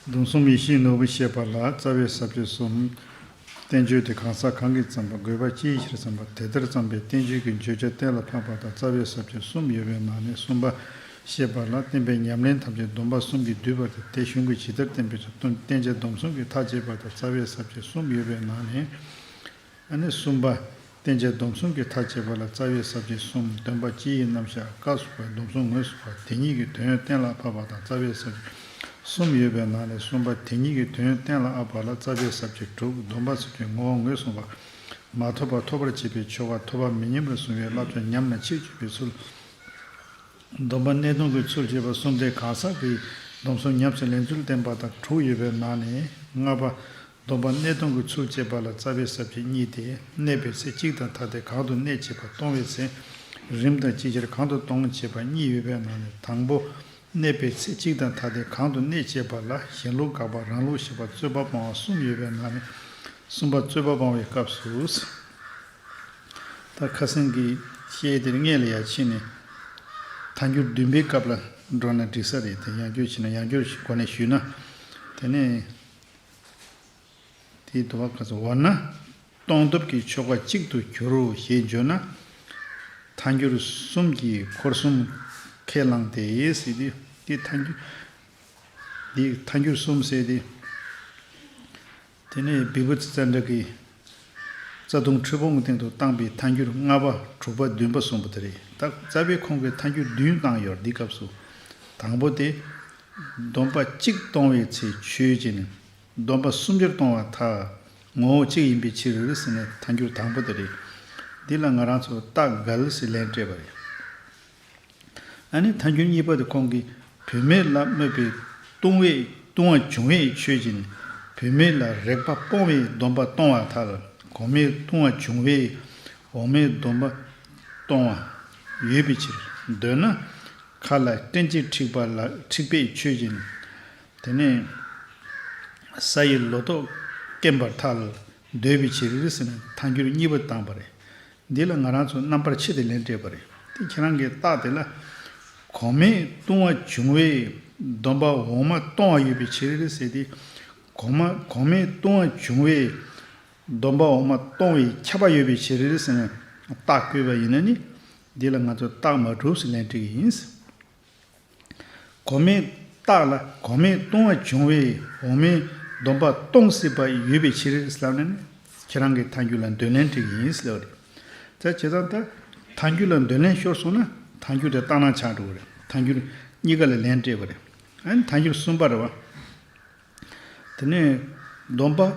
སྡོམ་གསུམ་ཡེ་ཤེས་ནོར་བུ་ཞེས་པ་ལ་རྩ་བའི་ས་བཅུ་གསུམ། བསྟན་བཅོས་དེ་གང་ཟག་གང་གིས་བརྩམས་པ་དགོས་པ་ཅིའི་ཕྱིར་བརྩམས་པ་དེ་ལྟར་བརྩམས་པའི་བསྟན་བཅོས་ཀྱི་བརྗོད་བྱ་གཏན་ལ་ཕབ་པ་དང་རྩ་བའི་ས་བཅུ་གསུམ་ཡོད་པའི་ནང་ནས་གསུམ་པ། ཞེས་པ་ལ་བརྟེན་པའི་ཉམས་ལེན་ཐམས་ཅད་སྡོམ་པ་གསུམ་གྱིས་བསྡུས་པ་དེ་དེ་གཞུང་གིས་ཇི་ལྟར་བསྟན་པའི་ཚུལ་བསྟན་བྱའི་སྡོམ་གསུམ་གྱི་མཐའ་བཅད་པ་དང་རྩ་བའི་ས་བཅུ་གསུམ་ཡོད་པའི་ནང་ནས། ཨ་ནི་གསུམ་པ། བསྟན་བྱའི་སྡོམ་གསུམ་གྱི་མཐའ་བཅད་པ་ལ་རྩ་བའི་ཟབ་ཆོས་གསུམ་འདོན་པ་སྤྱིའི་ཡི་རྣམ་བཞག་བཀའ་ཟུར་པའི་སྡོམ་གསུམ་ངོས་བཟུང་བ་དེ་ཉིད་ཀྱི་དོན་གཏན་ལ་ཕབ་པ་དང་རྩ་བའི་ཟབ་ཆོས་གསུམ་ཡོད་པའི་ནང་ནས་གསུམ་པ་དེ་ཉིད་ཀྱི་དོན་གཏན་ལ་ཨབ་པ་ལ་རྩ་བའི་ཟབ་ཆོས་དྲུག་སྡོམ་པ་གསུམ་གྱི་ངོ་བོ་ངོས་བཟུང་བ། མ་ཐོབ་པ་ཐོབ་པར་བྱེད་པའི་ཆོ་ག་ཐོབ་པ་མི་ཉམས་ལ་བཟུང་བའི་བསླབ་བྱ་ཉམས་ན་ཕྱིར་བཅོས་པའི་ཚུལ། སྡོམ་པ་གནད་སྟོང་གི་ཚུལ་བཅས་པ་གསུམ་སྟེ་གང་ཟག་གིས་སྡོམ་གསུམ་ཉམས་སུ་ལེན་ཚུལ་བསྟན་པ་དང་དྲུག་ཡོད་པའི་ནང་ནས་ལྔ་པ། སྡོམ་པ་གནས་སྟོང་གི་ཚུལ་བཅས་པ་ལ་རྩ་བའི་ཟབ་ཁྱད་གཉིས་ཏེ་གནས་པའི་ཚེ་གཅིག་དང་ཐ་དད་གང་དུ་གནས་བྱེད་པ་སྟོང་བའི་ཚེ། རིམ་དང་ཅིག་ཆར་གང་དུ་སྟོང་བྱེད་པ་གཉིས་ཡོད་པའི་ནང་ནས་དང་པོ། གནས་པའི་ཚེ་གཅིག་དང་ཐ་དད་གང་དུ་གནས་བྱེད་པ་ལ་གཞན་ལུགས་དགག་པ་རང་ལུགས་ཞེས་པ་རྩོད་པ་སྤང་བ་གསུམ་ཡོད་པའི་ནང་ནས་གསུམ་པ་རྩོད་པ་སྤང་བའི་སྐབས་སུ། ད་ཁ་སེང་གེའི་ཤེལ་དེར་མངལ་ལ་ཡ་ཕྱེ་ནས། ཐ་འགྱུར་བདུན་པའི་སྐབས་ལ་འགྲོ་ན་འགྲིག་ས་རེད་དེ་ཡང་སྐྱོར་བྱེད་ན་ཡང་སྐྱོར་གོ་ནས་ཞུས་ན། དེ་ནས། དེའི་དུ་བ་ཁ་ཚ་བ་ན་གཏོང་སྟོབས་ཀྱི་ཆོ་ག་གཅིག་ཏུ་གྱུར་རོ་ཞེས་བརྗོད་ན། མཐའ་འགྱུར་གསུམ་གྱིས་འཁོར་གསུམ་ཁས་བླངས་ཏེ། དེའི་མཐའ་འགྱུར་གསུམ་བསྲེས་ཏེ། དེ་ནས་བི་བུ་ཙི་ཙཱ་འདྲ་གི། རྩ་ལྟུང་ཁྲི་འབུམ་གྱི་སྟེང་དུ་བཏང་པའི་མཐའ་འགྱུར་ལྔ་པ་དྲུག་པ་བདུན་པ་གསུམ་པོ་དེ་རེད་ད་རྩ་བའི་ཁོང་གི་མཐའ་འགྱུར་བདུན་བཏང་ཡོད་འདི་སྐབས་སུ། དང་པོ་སྟེ། སྡོམ་པ་གཅིག་གཏོང་བའི་ཚེ་ཆོས་བྱེད་ནི། སྡོམ་པ་སུམ་ཅུར་གཏོང་བ་མཐའ། ངོ་བོ་གཅིག་ཡིན་པའི་ཕྱིར་ཟེར་ནས་མཐའ་འགྱུར་དང་པོ་དེ་རེད། འདི་ལ་ང་རང་ཚོས་རྟགས་འགལ་ཞིག་ལན་སྤྲད་པ་རེད། ཨ་ནི་ཐ་འཁྱོལ་གཉིས་པ་དེ་ཁོང་གིས་བུད་མེད་ལ་དམོད་པའི་ལྟུང་བས་ལྟུང་བ་བྱུང་བས་ཆོས་ཀྱིས་ནི་བུད་མེད་ལ་རེག་པ་སྤོང་བའི་སྡོམ་པ་གཏོང་བ་དག་ལ་གོང་མའི་ལྟུང་བ་བྱུང་བས་འོག་མའི་སྡོམ་པ་གཏོང་བ་ཡོད་པའི་ཕྱིར། འདོད་ན། ཁ་ལ་སྐྲན་གཅིག་འཁྲིགས་པ་ལ་འཁྲིགས་པས་ཆོས་ཀྱིས་ནི། དེ་ནས་ས་ཡི་ལོ་ཏོག་སྐེམ་པར་ཐལ། འདོད་པའི་ཕྱིར་རིགས་ནི་ཐ་འཁྱོལ་གཉིས་པ་དང་བ་རེ། འདི་ལ་ང་རང་ཚོ་རྣམ་པར་ཕྱེ་སྟེ་ལན་སྤྲད་པ་རེད་དེ་ཁྱེད་རང་གིས་རྟགས་དེ་ལ། གོང་མའི་ལྟུང་བ་བྱུང་བས་སྡོམ་པ་འོག་མ་གཏོང་བ་ཡོད་པའི་ཕྱིར་ཟེར་ཏེ། གོང་མ་གོང་མའི་ལྟུང་བ་བྱུང་བས་སྡོམ་པ་འོག་མ་གཏོང་བའི་ཁྱབ་པ་ཡོད་པའི་ཕྱིར་ཟེར་ནས་རྟགས་བཀོད་པ་ཡིན་ན་ནི། འདི་ལ་ང་ཚོ་རྟགས་མ་གྲུབ་ཟེར་ལན་སྤྲད་ཀྱི་ཡིན། གོ་མིན་ཏག་ལ་གོ་མིན་ཏུང་བ་བྱུང་བས་འོག་མིན་སྡོམ་པ་གཏོང་སྲིད་པ་ཡོད་པའི་ཕྱིར། ཁྱེད་རང་གི་མཐའ་འགྱུར་ལ་འདོད་ལན་འགྲིག་ཡིན་ཟེར་བ་རེད། ད་བྱས་ཙང་ད། མཐའ་འགྱུར་ལ་འདོད་ལན་ཤོར་སོང་ན་མཐའ་འགྱུར་དེ་བཏང་ན་ཆགས་འགྲོ་བ་རེད། མཐའ་འགྱུར་གཉིས་ཀ་ལ་ལན་སྤྲད་པ་རེད། མཐའ་འགྱུར་གསུམ་པ་རེད་བ། དེ་ནས། སྡོམ་པ།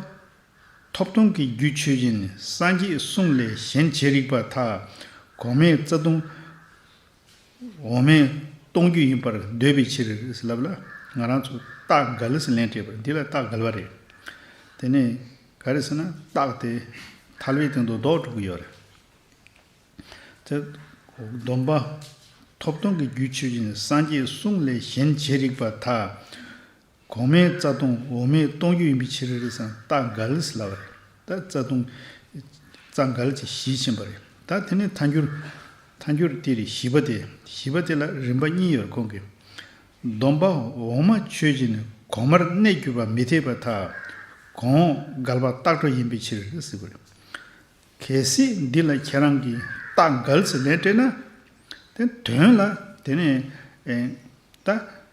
ཐོབ་ཐང་གི་རྒྱུད་ཆོས་ཅན་ནི་སངས་རྒྱས་གསུང་ལས་གཞན་བྱེད་རིགས་པ་དག་གོ་མིན་རྩ་ལྟུང། འོག་མས་གཏོང་རྒྱུ་ཡིན་པར་འདོད་པའི་ཕྱིར། ལབ་ལ། ང་རང་ཚོ་སྟག་སྒལ་ལས་སུ་ལན་སྤྲད་པར་འདི་ལ་སྟག་སྒལ་བ་རེད། དེ་ནས་ག་རེ་ཟེར་ན་སྟག་དེ་ཐལ་བའི་སྟེང་དུ་རྡོག་སྒྲུག་གི་ཡོད་རེད། དེ། སྡོམ་པ། ཐོབ་ཐང་གི་རྒྱུད་ཆོས་ཅན་སངས་རྒྱས་གསུང་ལས་གཞན་བྱེད་རིགས་པ་དག། གོང་མའི་རྩ་ལྟུང་འོག་མའི་ལྟུང་རྒྱུ་ཡིན་པའི་ཕྱིར་རེ་ཟན་རྟ་འགའ་ལས་སུ་ལ་བ་རེད་ད་རྩ་ལྟུང། རྩ་འགའ་ལས་ཀྱི་གཞི་ཕྱིན་པ་རེད་ད་དེ་ནས་མཐའ་འགྱུར། མཐའ་འགྱུར་དེ་རེད་བཞི་པ་དེ་བཞི་པ་དེ་ལ་རིམ་པ་གཉིས་ཡོད་གོང་གི། སྡོམ་པ་འོག་མ་ཆོས་ཀྱི་ནི་གོང་མར་གནས་གྱུར་པ་མི་འཐད་པ་ཐ། གོང་འགལ་བ་རྟགས་གྲོགས་ཡིན་པའི་ཕྱིར་ཟེར་བ་རེད། གལ་སྲིད་འདི་ལ་ཁྱེད་རང་གིས་རྟགས་འགལ་ཟེར་ལན་སྤྲད་ན། དེ་དོན་ལ་དེ་ནས། ད།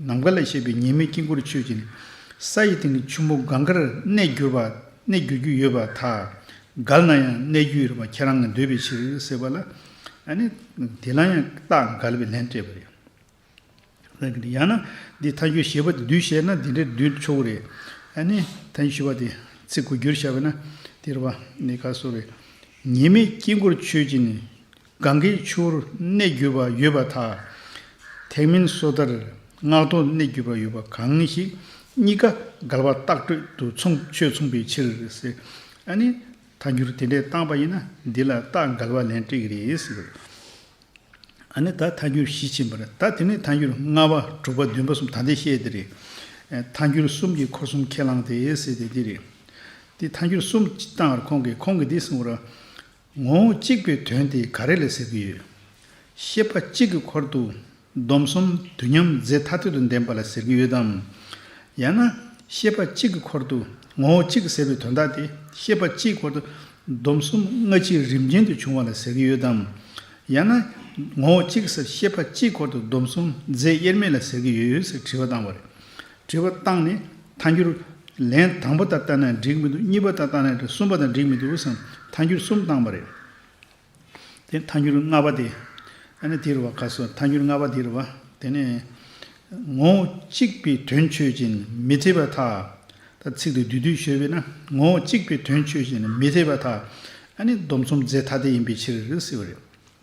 ནམ་མཁའ་ལས་བཤད་པའི་ཉི་མའི་དཀྱིལ་འཁོར་མཆོད་ཅིང། ས་ཡི་སྟེང་གི་ཆུ་མོ་གངྒཱ་རུ་གནས་གྱུར་པ། གནས་གྱུར་རྒྱུ་ཡོད་པ་དག། གཱལ་ན་ཡང་གནས་གྱུར་ཡོད་པ་ཁྱེད་རང་གི་འདོད་པའི་ཕྱིར་ཟེར་བ་ལ། ནི། དེ་ལ་ཡང་རྟགས་གཱལ་བའི་ལན་སྤྲད་པ་རེད། ཡང་ན། འདི་མཐའ་འཁྱོལ་ཞེས་པ་དེ་བསྡུས་བྱས་ན་འདི་འདྲའི་བསྡུས་ཆོག་གི་རེད། ནི། མཐའ་འཁྱོལ་ཞེས་པ་དེ་ཚིག་གོ་རྒྱུར་བྱ་བས་ན། དེ་རུ་བ། ནི་ཁ་གསོ་བའི། ཉི་མའི་དཀྱིལ་འཁོར་མཆོད་ཅིང། གང་གིས་ཆུ་བོར་གནས་བརྒྱུད་པ་ཡོད་པ་དག། ཐེག་མིན་སོ་ཐར་སྔགས་ཐོག་གནས་བརྒྱུད་པ་ཡོད་པ་གང་ཞིག། གཉིས་ཀ་འགལ་བ་བཏགས་གྲོལ་དུ་མཚུངས་ཆོས་མཚུངས་པའི་ཕྱིར། ཨ་ནི། ཐལ་འགྱུར་དེ་འདྲའི་བཏང་པ་ཡིན་ན་འདི་ལ་བཏགས་འགལ་བ་ལན་དཀྲིས་རེད། ཨ་ནི་ད་ཐལ་འགྱུར་བཞི་ཕྱིན་པ་རེད་ད་དེ་ནས་ཐལ་འགྱུར་ལྔ་པ་དྲུག་པ་བདུན་པ་གསུམ་ད་འདི་བཤད་དེ་རེད། ཐལ་འགྱུར་གསུམ་གྱི་འཁོར་གསུམ་ཁས་བླངས་ཏེ་བཤད་དེ་འདི་རེད། དེ་ཐལ་འགྱུར་གསུམ་བཏང་བར་ཁོང་གིས་ཁོང་གིས་འདི་གསུངས་པ་རེད། ངོ་བོ་གཅིག་པའི་དོན་དེ་ག་རེ་ལས་ཟེར་གྱི་ཡོད། ཤེས་པ་གཅིག་གི་འཁོར་དུ་སྡོམ་གསུམ་དུས་མཉམ་རྫས་ཐ་དད་དུ་ལྡན་པ་ལ་ཟེར་གྱི་ཡོད་དམ། ཡང་ན་ཤེས་པ་གཅིག་གི་འཁོར་དུ་ངོ་བོ་གཅིག་ཟེར་བའི་དོན་དག་དེ་ཤེས་པ་གཅིག་འཁོར་དུ་སྡོམ་གསུམ་སྔ་ཕྱིའི་རིམ་ཅན་དུ་བྱུང་བ་ལ་ཟེར་གྱི་ཡོད་དམ། ཡང་ན། ངོ་བོ་གཅིག་ཟེར་ཤེས་པ་གཅིག་འཁོར་དུ་སྡོམ་གསུམ་རྫས་དབྱེར་མེད་ལ་ཟེར་གྱི་ཡོད་ཟེར་དྲི་བ་བཏང་བ་རེད། དྲི་བ། ཏང་ནི་མཐའ་འགྱུར། ལན། དང་པོ་དང་བསྟན་ན་འགྲིག་མི་འདུག་གཉིས་པ་དང་བསྟན་ན་འགྲིག་གསུམ་པ་དང་འགྲིག་མི་འདུག་བསམ། མཐའ་འགྱུར་གསུམ་བཏང་བ་རེད། དེ་མཐའ་འགྱུར་ལྔ་པ་དེ། ཨ་ནི་དེ་རུ་བ་ག་སོ་མཐའ་འགྱུར་ལྔ་པ་དེ་རུ་བ། དེ་ནི། ངོ། གཅིག་པའི་དོན་ཆོས་ཅན་མི་འཐད་པ་དག། ད་ཚིག་ཏུ་དུས་དུས་ཤོད་པས་ན། ངོ། གཅིག་པའི་དོན་ཆོས་ཅན་མི་འཐད་པ་དག། ཨ་ནི་སྡོམ་གསུམ་རྫས་ཐ་དད་ཡིན་པའི་ཕྱིར། ཟེར་བ་རེད།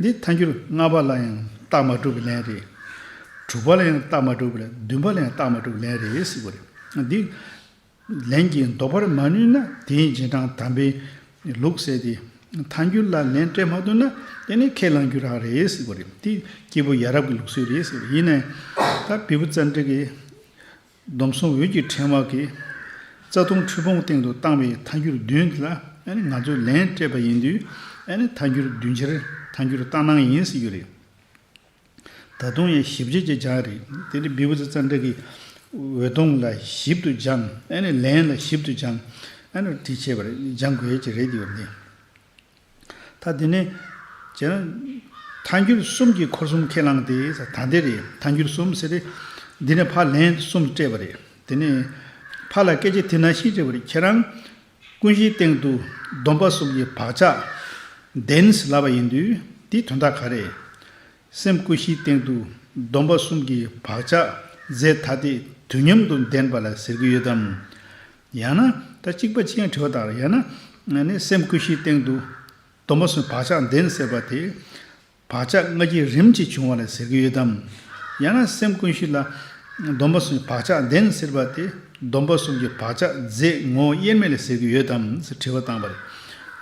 འདི་མཐའ་འཁྱོལ་ལྔ་པ་ལ་ཡང་རྟགས་མ་གྲུབ་པའི་ལན་རེད། དྲུག་པ་ལ་ཡང་རྟགས་མ་གྲུབ་པའི་ལན་བདུན་པ་ལ་ཡང་རྟགས་མ་གྲུབ་པའི་ལན་རེད་ཟེར་དགོས་རེད། འདི་ལན་གྱིས་འདོགས་པར་མ་ནུས་ན་དེའི་རྗེས་འབྲང་དམ་པའི་ལུགས་བསལ་ཏེ། མཐའ་འཁྱོལ་ལ་ལན་སྤྲད་མ་ཐུབ་ན་དེ་ནི་ཁས་བླངས་རྒྱུ་རང་རེད་ཟེར་དགོས་རེད། འདི་སྐྱེས་བུ་ཡ་རབས་ཀྱི་ལུགས་སྲོལ་རེད་ཟེར་དགོས་རེད། ཡིན་ནའི་ད་བི་བུ་བཙན་བྲིད་ཀྱིས། སྡོམ་གསུམ་འོད་ཀྱི་ཕྲེང་བ་གིས། རྩ་ལྟུང་འཁྲུལ་སྤོང་སྟེང་དུ་བཏང་བའི་མཐའ་འགྱུར་བདུན་ལ་ང་ཚོས་ལན་སྤྲད་པ་ཡིན་དུས། མཐའ་འགྱུར་བདུན་ཕྱིར་མཐའ་འགྱུར་ལྟར་སྣང་ཡིན་ཟེར་རྒྱུ་རེད། ད་དུང་ཡང་ཞིབ་རྒྱས་ཀྱི་སྦྱང་རེད། དེ་ནི་བི་བུ་ཛི་ཙཱ་འདྲེ་ཀི། འོད་སྟོང་ལ་ཞིབ་ཏུ་སྦྱང། ལན་ལ་ཞིབ་ཏུ་སྦྱང། བྲིས་ཆེ་བར་སྦྱང་དགོས་ཀྱི་རེད་དེ་ཡོད་མི། ད་དེ་ནས། ཇི་ལྟར། ཐལ་འགྱུར་གསུམ་གྱི་འཁོར་གསུམ་ཁས་བླངས་ཏེ། ད་དེ་རེད། ཐལ་འགྱུར་གསུམ་ཟེར་ཏེ། འདི་ནས་ཕ་ལན་གསུམ་སྤྲད་པ་རེད། དེ་ནས། ཕ་ལ་སྐད་ཆ་དེ་ན་ཤི་བྱས་པ་རེད་ཁྱེད་རང། ཀུན་གཞིའི་སྟེང་དུ། སྡོམ་པ་གསུམ་གྱི་བག་ཆགས། བདེན། ལབ་པ་ཡིན་དུས། དེའི་དོན་དག་ག་རེད། སེམས་ཀུན་གཞིའི་སྟེང་དུ། སྡོམ་པ་གསུམ་གྱི་བག་ཆགས། རྫས་ཐ་དད་དུས་མཉམ་དུ་ལྡན་པ་ལ་ཟེར་གྱི་ཡོད་དམ། ཡང་ན་ད་གཅིག་པ་ཅན་དྲི་བ་དང་ཡང་ན་ནི་སེམས་ཀུན་གཞིའི་སྟེང་དུ། སྡོམ་པ་སོགས་བག་ཆགས་འདིར་ཟེར་བ་དེ། བག་ཆགས་ལྔ་བརྒྱའི་རིམ་གྱིས་བྱུང་བ་ལ་ཟེར་གྱི་ཡོད་དམ། ཡང་ན་སེམས་ཀུན་གཞི་ལ། སྡོམ་པ་སོགས་བག་ཆགས་འདིར་ཟེར་བ་དེ། སྡོམ་པ་སོགས་ཀྱི་བག་ཆགས་རྫས་ངོ་བོ་དབྱེར་མེད་ལ་ཟེར་གྱི་ཡོད་དམ་ཞེས་དྲི་བ་བཏང་བ་རེད།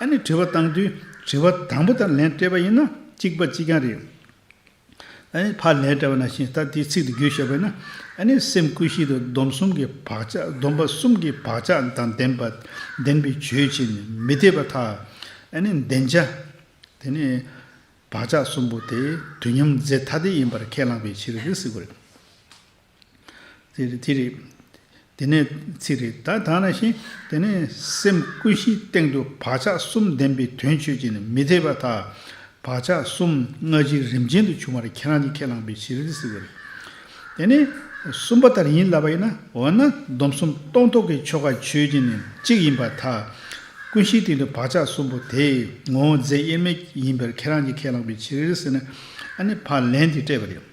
ཨ་ནི་དྲི་བ་བཏང་དུས་དྲི་བ་དང་པོ་དང་ལན་སྤྲད་པ་ཡིན་ན་གཅིག་པ་གཅིག་རྐྱང་རེད། བར་ལས་བྲལ་བ་ན་ཞིང་རྟ་དེའི་ཚིག་དེ་བརྗོད་བཞག་པས་ན། སེམས་ཀུན་གཞི་དང་སྡོམ་གསུམ་གྱི་བག་ཆགས་སྡོམ་པ་གསུམ་གྱི་བག་ཆགས་དང་ལྡན་པ་ལྡན་པའི་ཆོས་ཅན་ནི་མི་འཐད་པ་ཐག་བདེན་བྱ། དེ་ནི་བག་ཆགས་གསུམ་པོ་དེ་དུས་མཉམ་རྫས་ཐ་དད་ཡིན་པར་ཁས་བླངས་པའི་ཕྱིར་རིགས་གཟིགས་པ་རེད། ཚིག་རེ་རེ། དེ་ནས་ཚིག་རེ་རེ། ད་དང་ཞིང། དེ་ནས་སེམས་ཀུན་གཞིའི་སྟེང་དུ་བག་ཆགས་གསུམ་ལྡན་པའི་དོན་ཆོས་ཅན་ནི་མི་འཐད་པ་དག། བག་ཆགས་གསུམ་སྔ་ཕྱིར་རིམ་ཅན་དུ་བྱུང་བར་ཁྱེད་རང་གིས་ཁས་བླངས་པའི་ཕྱིར་རིགས་སུ་ཡོད། དེ་ནས་གསུམ་པ་ལྟར་ཡིན་ལབ་པ་ཡིན་ན། འོ་ན་སྡོམ་གསུམ་རྟོགས་ཐོགས་ཀྱི་ཆོ་ག་ཆོས་ཅན་ནི་གཅིག་ཡིན་པ་དག། ཀུན་གཞིའི་སྟེང་དུ་བག་ཆགས་གསུམ་པོ་དེ། ངོ་བོ་རྫས་དབྱེར་མེད་ཡིན་པར་ཁྱེད་རང་གིས་ཁས་བླངས་པའི་ཕྱིར་རིགས་སུ་ཡོད། ཨ་ནི་བག་ལན་འདི་སྤྲད་པ་རེད།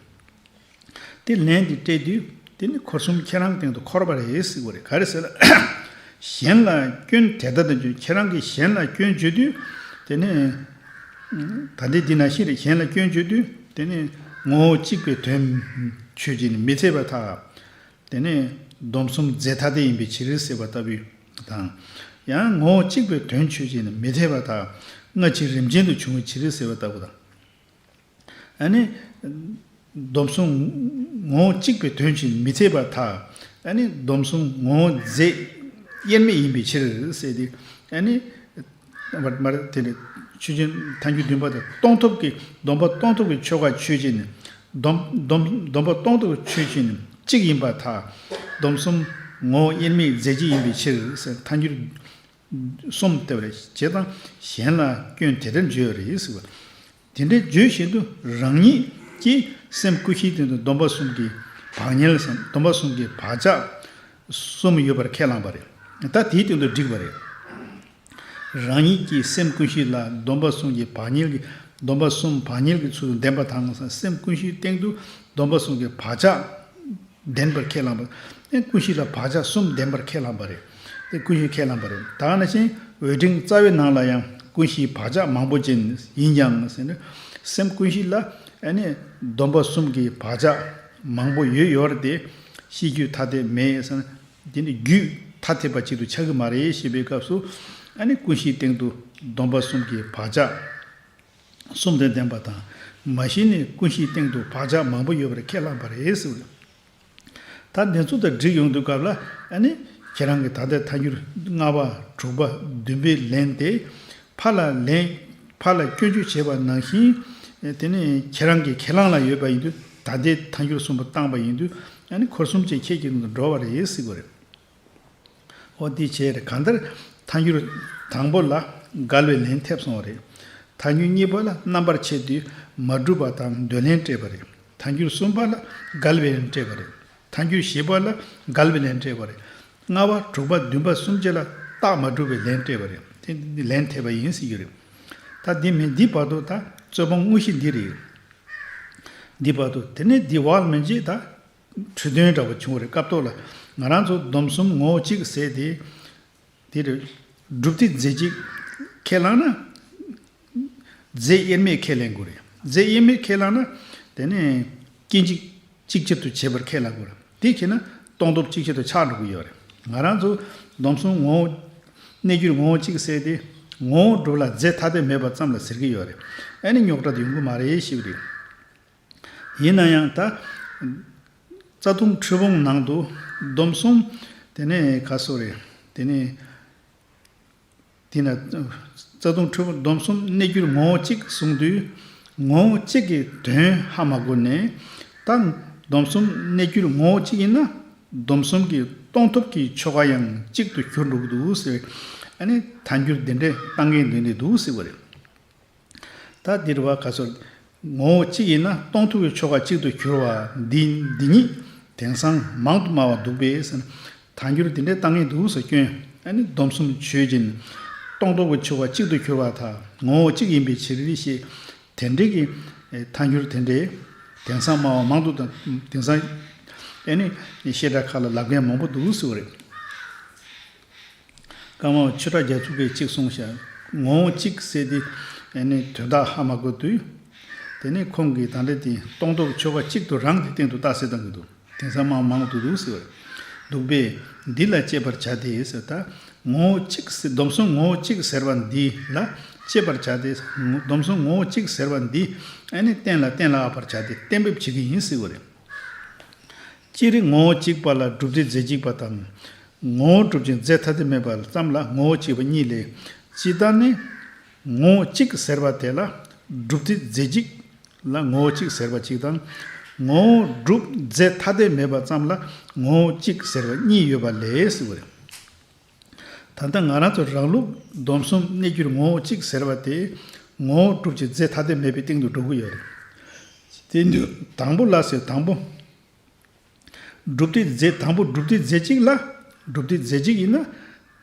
དེ་ལན་དེ་སྤྲད་དུས་དེ་ནི་འཁོར་གསུམ་ཁྱེད་རང་སྟེང་དུ་འཁོར་བ་རེད་ཟེར་བ་རེད་ག་རེ་ཟེར་ན། གཞན་ལ་སྐྱོན་དེ་ལྟར་དུ་བརྗོད་ཁྱེད་རང་གིས་གཞན་ལ་སྐྱོན་བརྗོད་དུས་དེ་ནི། ད་ལྟའི་འདི་ན་ཤི་རེ་གཞན་ལ་སྐྱོན་བརྗོད་དུས་དེ་ནི་ངོ་བོ་གཅིག་པའི་དོན། ཆོས་ཀྱིས་ནི་མི་ཚད་པ་ཐག་དེ་ནི་སྡོམ་གསུམ་རྫས་ཐ་དད་ཡིན་པའི་ཕྱིར་ཟེར་བ་ལྟ་བུ་དང། ཡང་ངོ་བོ་གཅིག་པའི་དོན་ཆོས་ཀྱིས་ནི་མི་ཚད་པ་ཐག་སྔ་ཕྱི་རིམ་ཅན་དུ་བྱུང་བའི་ཕྱིར་ཟེར་བ་ལྟ་བུ་དང། སྡོམ་བཟུང་ངོ་བོ་གཅིག་པའི་དོན་གྱིས་མི་ཚད་པ་དག། སྡོམ་བཟུང་ངོ་བོ་རྫས་དབྱེར་མེད་ཡིན་པའི་ཕྱིར། ཆོས་ཅན། ཐ་སྙད་བདུན་པ་དང་སྟོང་ཐོབ་ཀྱི་སྡོམ་པ་སྟོང་ཐོབ་ཀྱི་ཆོ་ག་ཆོས་ཅན། སྡོམ་པ་སྟོང་ཐོབ་ཀྱི་ཆོས་ཅན་གཅིག་ཡིན་པ་དག། སྡོམ་བཟུང་ངོ་བོ་དབྱེར་མེད་རྫས་གཅིག་ཡིན་པའི་ཕྱིར། ཐ་སྙད་གསུམ་ལྟ་བའི་བྱེད་སྟངས་གཞན་ལ་སྐྱོན་དེ་འདྲ་བརྗོད་རེས་བྱེད། དེ་འདྲ་བརྗོད་བཞིན་དུ་རང་ཉིད་ཀྱི་སེམས་ཀུན་གཞིའི་སྟེང་དུ་སྡོམ་པ་གསུམ་གྱི་བག་ཉལ་གསུམ་སྡོམ་པ་གསུམ་གྱི་བག་ཆགས་གསུམ་ཡོད་པར་ཁས་བླངས་པ་རེད། ད་དེའི་སྟེང་དུ་འགྲིག་པ་རེད། རང་ཉིད་ཀྱི་སེམས་ཀུན་གཞི་ལ་སྡོམ་པ་གསུམ་གྱི་བག་ཉལ་གྱི་སྡོམ་པ་གསུམ་བག་ཉལ་གྱི་ཚུལ་དུ་ལྡན་པ་དང་སེམས་ཀུན་གཞིའི་སྟེང་དུ་སྡོམ་པ་གསུམ་གྱི་བག་ཆགས་ལྡན་པར་ཁས་བླངས་པ། ཀུན་གཞི་ལ་བག་ཆགས་གསུམ་ལྡན་པར་ཁས་བླངས་པ་རེད། ཀུན་གཞི་ཁས་བླངས་པ་རེད། དག་ན་ཞིང་འོད་འབྲིང་རྩ་བའི་ནང་ལ་ཡང་ཀུན་གཞིའི་བག་ཆགས་མང་པོ་ཅན་ཡིན་ཀྱང། སེམས་ཀུན་གཞི་ལ་སྡོམ་པ་གསུམ་གྱི་བག་ཆགས་མང་པོ་ཡོད་ཡོད་རེད་དེ། ཤེས་རྒྱུད་ཐ་དད་མེད། དེ་ནི་རྒྱུད་ཐ་དད་པ་གཅིག་ཏུ་ཆགས་ཀྱི་མ་རེད་ཞེས་པའི་སྐབས་སུ། ཀུན་གཞིའི་སྟེང་དུ་སྡོམ་པ་གསུམ་གྱི་བག་ཆགས། གསུམ་དོན་བདེན་པ་དང། མ་གཞི་ནས་ཀུན་གཞིའི་སྟེང་དུ་བག་ཆགས་མང་པོ་ཡོད་པར་ཁས་བླངས་པ་རེད། ད་འདི་ཚོ་དང་འགྲིག་ཡོང་དུས་སྐབས་ལ་ནི། ཁྱེད་རང་གིས་ད་ལྟའི་ཐ་སྙུར་ལྔ་པ། དྲུག་པ། བདུན་པའི་ལན་དེ། ཕར་ལ་ལན། ཕར་ལ་སྐྱོན་བརྗོད་བྱས་པ་ནང་བཞིན། དེ་ནི་ཁྱེད་རང་གི་ཁས་བླངས་ལ་ཡོད་པ་ཡིན་དུས་ད་ལྟའི་ཐ་སྙུར་གསུམ་པ་བཏང་པ་ཡིན་དུས་ནི་འཁོར་གསུམ་བཅས་ཁྱེད་ཀྱི་ནང་དུ་འགྲོ་བ་རེད། ཨོ་དེ་བྱས་རེད་གང་ལྟར་ཐཱན་འགྱུར་དང་པོ་ལ་དགག་བློས་ལན་ཐེབས་སོང་བ་རེད། ཐཱན་འགྱུར་གཉིས་པ་ལ་རྣམ་པར་ཕྱེ་དུས་མ་གྲུབ་པ་དང་འདོད་ལན་སྤྲད་པ་རེད། ཐཱན་འགྱུར་གསུམ་པ་ལ་དགག་བློས་ལན་སྤྲད་པ་རེད། ཐཱན་འགྱུར་བཞི་པ་ལ་དགག་བློས་ལན་སྤྲད་པ་རེད། ལྔ་བ་དྲུག་པ་བདུན་པ་གསུམ་བཅས་ལ་རྟགས་མ་གྲུབ་པའི་ལན་སྤྲད་པ་རེད། དེ་འདི་ལན་ཐེབས་པ་ཡིན་ཟེར་གྱི་རེད། ད་འདི་མིན་འདི་བར་དུ་ད་རྩོད་པ་དངོས་གཞི་འདི་རེད། འདི་བར་དུ་དེ་ནས་འདི་བར་མིན་རྗེས་ད། འཕྲོས་དོན་འདྲ་བོ་བྱུང་བ་རེད་སྐབས་ཐོག་ལ་ང་རང་ཚོ་སྡོམ་གསུམ་ངོ་བོ་གཅིག་གི་ཟེར་དེ། དེ་རུ། སྒྲུབ་ཐིག་རྫས་གཅིག། ཁས་བླངས་ན། རྫས་དབྱེར་མེད་ཁས་ལེན་དགོས་རེད། རྫས་དབྱེར་མེད་ཁས་བླངས་ན། དེ་ནས། སྐྱེ་འཇིག་གཅིག་ཆར་དུ་བྱེད་པར་ཁས་བླངས་དགོས་རེད། དེ་ཁེལ་ན། སྟོང་སྟོབས་གཅིག་ཆར་དུ་ཆགས་འགྲོ་གི་ཡོད་རེད། ང་རང་ཚོ་སྡོམ་གསུམ་ངོ་བོ། གནས་གྱུར་ངོ་བོ་གཅིག་གི་ཟེར་དེ། ངོ་བོ་སྒྲུབ་ལ་རྫས་ཐ་དད་མེད་པ་ཙམ་ལ་ཟེར་གྱི་ཡོད་རེད། ཨ་ནི་རྙོག་དྲ་དེ་ཡོང་གི་མ་རེད་ཞེས་པ་རེད། ཡིན་ན་ཡང་ད། རྩྭ་ཐུང་ཁྲི་བོང་ནང་དུ་སྡོམ་གསུམ། དེ་ནས་ཁ་སོ་རེ། དེ་ནས། དེས་ན། རྩྭ་ཐུང་ཁྲི་བོང་སྡོམ་གསུམ་གནས་གྱུར་ངོ་བོ་གཅིག་གསུངས་དུས། ངོ་བོ་གཅིག་གི་དོན་ཧ་མ་གོ་ནས། ད། སྡོམ་གསུམ་གནས་གྱུར་ངོ་བོ་གཅིག་ཡིན་ན། སྡོམ་གསུམ་གྱི་སྟོང་ཐོབ་ཀྱི་ཆོ་ག་ཡང་གཅིག་ཏུ་གྱུར་འགྲོ་གི་འདུག་ཟེར་བས། ཨ་ནི་ད་འགྱུར་འདི་འདྲའི་གཏམ་གྱི་མདུན་དེ་འདུག་ཟེར་བ་རེད། ད་འདིར་བ་ག་སོགས་ངོ་བོ་གཅིག་ཡིན་ན་སྟོང་ཐུག་གི་ཆོ་ག་གཅིག་ཏུ་གྱུར་བ་འདི་འདི་ཉིད་དེང་སང་མང་དུ་སྨྲ་བ་འདུག་པས། དང་འགྱུར་དེ་འདྲའི་གཏམ་ངན་དུག་སུ་སྐྱོན། སྡོམ་གསུམ་ཆོས་ཅན། སྟོང་ཐུག་གི་ཆོ་ག་གཅིག་ཏུ་གྱུར་བ་དག་ངོ་བོ་གཅིག་ཡིན་པའི་ཕྱིར་ཞེས་དེ་འདྲི་གི། ཐ་འགྱུར་དེ་འདྲའི་དེང་སང་སྨྲ་བ་མང་དུ་དང་དེང་སང། བཤད་གྲྭ་ཁག་ལ་ལབ་མཁན་མང་པོ་འདུག་སྲིད་བ་རེད། སྐར་མ་བ་ཆོས་གྲགས་རྒྱ་ཚུགས་པས་གཅིག་གསུངས་ཤག་ངོ་བོ་གཅིག་གསལ་ཏེ། ཡང་ནི་དོན་དག་ཧ་མ་དགོས་དུས། དེ་ནས་ཁོང་གིས་དང་འདྲ་དེ་སྟོང་ཐོབ་ཆོ་ག་གཅིག་ཏུ་རང་གི་སྟེང་དུ་བཏགས་ཟེར་དང་གི་འདུག་དེང་སང་མང་མང་དུ་འདུག་ཟེར་བས། འདུག་པས། འདི་ལ་དཔྱད་པར་བྱ་སྟེ་ཟེར་ད། ངོ་བོ་གཅིག་སྡོམ་གསུམ་ངོ་བོ་གཅིག་ཟེར་བ་འདི་ལ་དཔྱད་པར་བྱ་སྟེ། སྡོམ་གསུམ་ངོ་བོ་གཅིག་ཟེར་བ་འདི་ཡང་ནི་བསྟན་ལ་བསྟན་ལ་ཨ་བར་བྱ་སྟེ་གཏན་འབེབས་བྱེད་ཀྱི་ཡིན་ཟེར་བ་རེད། ཅི་རིགས་ངོ་བོ་གཅིག་པ་ལ་སྒྲུབ་བྱེད་རྫས་གཅིག་པ་དང། ངོ་བོ་སྒྲུབ་བྱེད་རྫས་ཐ་དད་མེད་པ་ཙམ་ལ་ངོ་བོ་གཅིག་པ་གཉིས་ལས། ཇི་ལྟར་ནི། ངོ་བོ་གཅིག་ཟེར་བ་དེ་ལ་སྒྲུབ་བྱེད་རྫས་གཅིག་ལ་ངོ་བོ་གཅིག་ཟེར་བ་གཅིག་དང། ངོ་བོ་སྒྲུབ་རྫས་ཐ་དད་མེད་པ་ཙམ་ལ་ངོ་བོ་གཅིག་ཟེར་བ་གཉིས་ཡོད་པ་ལས། ད་ལྟ་ང་རང་ཚོ་རང་ལུགས་སྡོམ་གསུམ་གནས་རྒྱུར་ངོ་བོ་གཅིག་ཟེར་བ་དེ། ངོ་བོ་གྲུབ་ཀྱི་རྫས་ཐ་དད་མེད་པའི་སྟེང་དུ་འགྲོ་གི་ཡོད་རེད། དེ་ནི་དང་པོ་ལ་ཟེར་དང་པོ། གྲུབ་ཏེ་རྫས་དང་པོ་གྲུབ་ཏེ་རྫས་གཅིག་ལ། གྲུབ་ཏེ་རྫས་གཅིག་ཡིན་ན།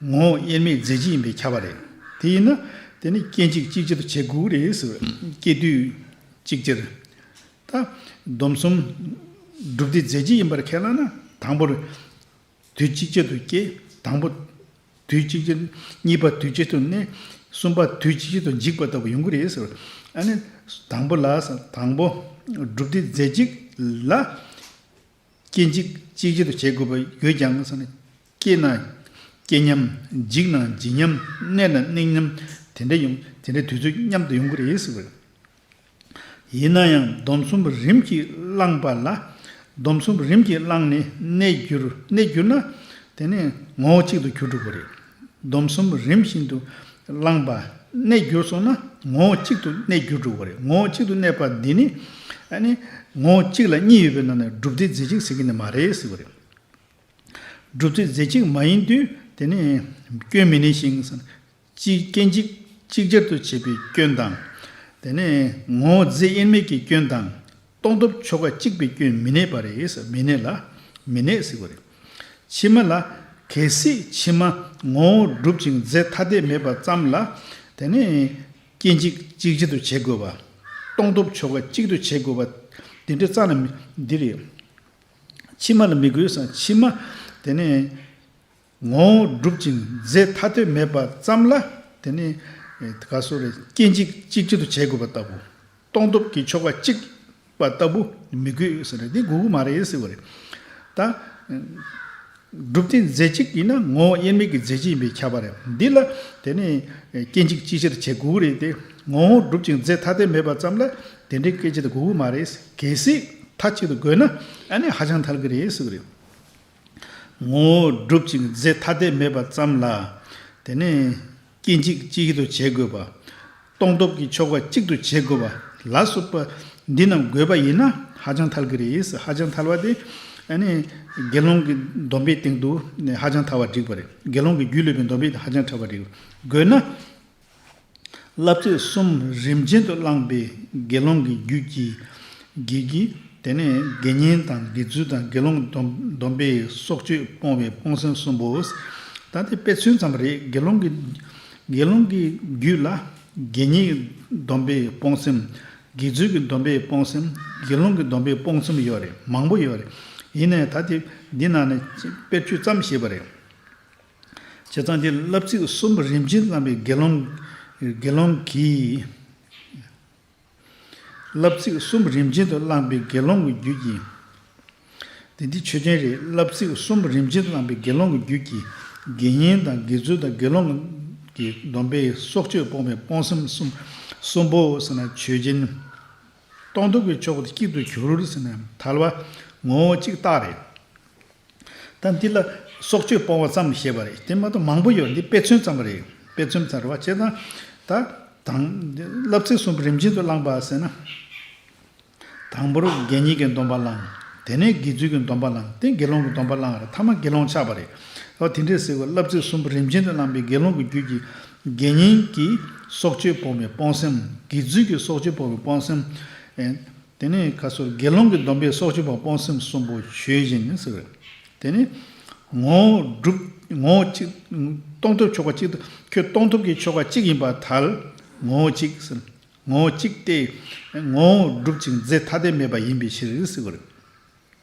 ངོ་བོ་དབྱེར་མེད་རྫས་གཅིག་ཡིན་པའི་ཁྱབ་པ་རེད། དེ་ཡིན་ན། དེ་ནི་སྐྱེ་འཇིག་གཅིག་ཅར་བྱེད་དགོས་རེད་ཟེར་བས་སྐྱེ་དུས་གཅིག་ཅར། ད། སྡོམ་གསུམ། གྲུབ་ཏེ་རྫས་གཅིག་ཡིན་པར་ཁས་བླངས་ན་དང་པོར། དུས་གཅིག་ཅད་དུ་སྐྱེས། དང་པོ། དུས་གཅིག་ཅད། གཉིས་པ་དུས་གཅིག་ཏུ་གནས། གསུམ་པ་དུས་གཅིག་ཅད་དུ་འཇིག་པ་ལྟ་བུ་ཡོང་གི་རེད། ཨ་ནི། དང་པོ་ལ། དང་པོ། སྒྲུབ་སྡེ་རྫས་གཅིག་ལ། སྐྱེ་འཇིག་གཅིག་ཅད་དུ་བྱེད་དགོས་པ་ཡོད་ཀྱང། སྐྱེས་ན། སྐྱེ་སྙམ། འཇིག་ན་འཇིག་སྙམ། གནས་ན་གནས་སྙམ། དེ་འདྲ་ཡོང། དེ་འདྲའི་དུས་ཚོད་མཉམ་དུ་ཡོང་གི་རེད། ཡིན་ན་ཡང་སྡོམ་གསུམ་རིམ་གྱིས་བླངས་པ་ལ། སྡོམ་གསུམ་རིམ་གྱིས་བླངས་ནས་གནས་གྱུར་གནས་གྱུར་ན། དེ་ནི་ངོ་བོ་གཅིག་ཏུ་གྱུར་འགྲོ་དགོས་རེད། སྡོམ་གསུམ་རིམ་བཞིན་དུ་བླངས་པ་གནས་གྱུར་སོང་ན་ངོ་བོ་གཅིག་ཏུ་གནས་གྱུར་འགྲོ་དགོས་རེད། ངོ་བོ་གཅིག་ཏུ་གནས་པ་འདི་ནི། ངོ་བོ་གཅིག་ལ་གཉིས་ཡོད་པའི་ནང་ནས་སྒྲུབ་རྫས་རྫས་གཅིག་ཟེར་གྱི་ནི་མ་རེད་ཟེར་བ་རེད། སྒྲུབ་རྫས་རྫས་གཅིག་མ་ཡིན་དུས་དེ་ནི་སྐྱོན་མི་གནས་ཤིང། གཅིག་སྐྱེ་འཇིག་གཅིག་ཅར་དུ་བྱེད་པའི་སྐྱོན་དང། དེ་ནས་ངོ་བོ་རྫས་དབྱེར་མེད་ཀྱི་སྐྱོན་དང། རྟོགས་ཐོབ་ཆོ་ག་གཅིག་པའི་སྐྱོན་མི་གནས་པ་རེད་མི་གནས་ལ། མི་གནས་ཟེར་བ་རེད། ཕྱི་མ་ལ། གལ་སྲིད་ཕྱི་མ་ངོ་བོ་གྲུབ་ཅིང་རྫས་ཐ་དད་མེད་པ་ཙམ་ལ། དེ་ནས། སྐྱེ་འཇིག་གཅིག་ཅར་དུ་བྱེད་དགོས་པ། རྟོགས་ཐོབ་ཆོ་ག་གཅིག་ཏུ་བྱེད་དགོས་པ། དེ་འདྲ་ཙམ་ལ་འདི་རེད། ཕྱི་མ་ལ་མི་དགོས་ཕྱི་མ། དེ་ནས། ངོ་བོ་གྲུབ་ཅིང་རྫས་ཐ་དད་མེད་པ་ཙམ་ལ་དེ་ནི། ག་སོགས་རེད་སྐྱེ་འཇིག་གཅིག་གཅིག་ཏུ་བྱེད་དགོས་པ་ལྟ་བུ། སྟོང་སྟོབས་ཀྱི་ཆོ་ག་གཅིག་པ་ལྟ་བུ་མི་དགོས་ཟེར་རེད་དེ་དགོས་དགོས་མ་རེད་ཟེར་བ་རེད། ད། གྲུབ་སྟེ་རྫས་གཅིག་ཡིན་ན་ངོ་བོ་དབྱེར་མེད་ཀྱི་རྫས་གཅིག་ཡིན་པས་ཁྱབ་པ་རེད། འདི་ལ་དེ་ནི། སྐྱེ་འཇིག་གཅིག་ཆར་བྱེད་དགོས་རེད་དེ། ངོ་བོ་གྲུབ་ཅིང་རྫས་ཐ་དད་མེད་པ་ཙམ་ལ་དེ་འདྲའི་སྐད་ཆ་དེ་དགོས་དགོས་མ་རེད། གལ་སྲིད་མཐའ་གཅིག་ཏུ་དགོས་ན་ཨ་ནི་ཧ་ཅང་ཐལ་གི་རེད་ཟེར་བ་རེད། ངོ་བོ་བསྒྲུབ་ཅིང་རྫས་ཐ་དད་མེད་པར་བརྩམས་ལ། དེ་ནས། སྐྱེ་འཇིག་གཅིག་ཏུ་བྱེད་དགོས་པ། སྟོང་སྟོབས་ཀྱི་ཆོ་ག་གཅིག་ཏུ་བྱེད་དགོས་པ་ལ་སོགས་པ་འདི་རྣམས་དགོས་པ་ཡིན་ན་ཧ་ཅང་ཐལ་གྱི་རེད། ཧ་ཅང་ཐལ་བ་དེ། དགེ་སློང་གི་སྡོམ་པའི་སྟེང་དུ་ཧ་ཅང་ཐལ་བ་འགྲིག་པ་རེད། དགེ་སློང་གི་རྒྱུས་ལུས་པའི་སྡོམ་པའི་སྟེང་ཧ་ཅང་ཐལ་བ་འགྲིག་དགོས་ན། བསླབ་ཚིག་གསུམ་རིམ་ཅན་དུ་བླངས་པས་དགེ་སློང་གི་རྒྱུད་ཀྱི་དགེ་གྱི། དེ་ནས་དགེ་བསྙེན་དང་དགེ་ཚུལ་དང་དགེ་སློང་སྡོམ་པས་སྲོག་གཅོད་སྤོང་བའི་སྤོང་སེམས་གསུམ་པོ། ད་ལྟའི་དཔེ་མཚོན་ཙམ་རེ་དགེ་སློང་གི། དགེ་སློང་གི་རྒྱུད་ལ། དགེ་བསྙེན་གྱི་སྡོམ་པས་སྤོང་སེམས། དགེ་ཚུལ་གྱི་སྡོམ་པས་སྤོང་སེམས། དགེ་སློང་གི་སྡོམ་པས་སྤོང་སེམས་ཡོད་རེད་མང་པོ་ཡོད་རེད། ཡིན་ནའི་ད་ལྟའི་འདི་ནང་ནས་དཔེར་བརྗོད་ཙམ་བྱས་པ་རེད། བྱས་ཙང་གི་བསླབ་ཚིག་གསུམ་པོ་རིམ་བཞིན་བརྩམས་པའི་དགེ་སློང། དགེ་སློང་གིས། བསླབ་ཚིག་གསུམ་པོ་རིམ་བཞིན་དུ་བླངས་པའི་དགེ་སློང་གི་རྒྱུད་ཀྱིས། དེ་འདི་ཆོས་ཅན་རེད་བསླབ་ཚིག་གསུམ་པོ་རིམ་བཞིན་བླངས་པའི་དགེ་སློང་གི་རྒྱུད་ཀྱིས། དགེ་བསྙེན་དང་དགེ་ཚུལ་དང་དགེ་སློང་གི་སྡོམ་པས་སྲོག་གཅོད་སྤོང་བའི་སྤོང་སེམས་གསུམ་པོ་ཟེར་ན་ཆོས་ཅན། སྟོང་སྡུག་གི་ཕྱོགས་དེ་གཅིག་ཏུ་གྱུར་ཟེར་ནས་ཐལ་བ། ངོ་བོ་གཅིག་རྟགས་རེད། ད་འདི་ལ་སྲོག་གཅོད་སྤོང་བ་ཙམ་བཤད་པ་རེད་དེ་མ་གཏོགས་མང་པོ་ཡོད་འདི་དཔེ་མཚོན་ཙམ་རེད། དཔེ་མཚོན་ཙམ་རེད་བ་བྱས་ཙང་ད། དང། བསླབ་ཚིག་གསུམ་རིམ་བཞིན་དུ་བླངས་པ་ཟེར་ན། དང་པོར་དགེ་བསྙེན་གྱི་སྡོམ་པ་བླངས། དེ་ནས་དགེ་ཚུལ་གྱི་སྡོམ་པ་བླངས་ཏེ་དགེ་སློང་གི་སྡོམ་པ་བླངས་རེད་མཐའ་མ་དགེ་སློང་ཆགས་པ་རེད། དེ་འདྲའི་སེལ་བའི་བསླབ་ཚིག་གསུམ་རིམ་བཞིན་དུ་བླངས་པས་དགེ་སློང་གི་རྒྱུད་ཀྱི་དགེ་བསྙེན་གྱི་སྲོག་གཅོད་སྤོང་བའི་སྤོང་སེམས། དགེ་ཚུལ་གྱི་སྲོག་གཅོད་སྤོང་བའི་སྤོང་སེམས། དེ་ནས་ཁ་སོར་དགེ་སློང་གི་སྡོམ་པའི་སྲོག་གཅོད་པར་སྤོང་སེམས་གསུམ་པོ་ཆོས་བཞིན་ཟེར་བས། དེ་ནས། ངོ། སྒྲུབ། ངོ། གཅིག། གཏོང་ཐོབ་ཆོ་ག་གཅིག་ཏུ། ཁྱོད་གཏོང་ཐོབ་ཀྱི་ཆོ་ག་གཅིག་ཡིན་པར་ཐལ། ངོ། གཅིག། ངོ། གཅིག་སྟེ། ངོ། སྒྲུབ་ཅིང་རྫས་ཐ་དད་མེད་པ་ཡིན་པའི་ཕྱིར།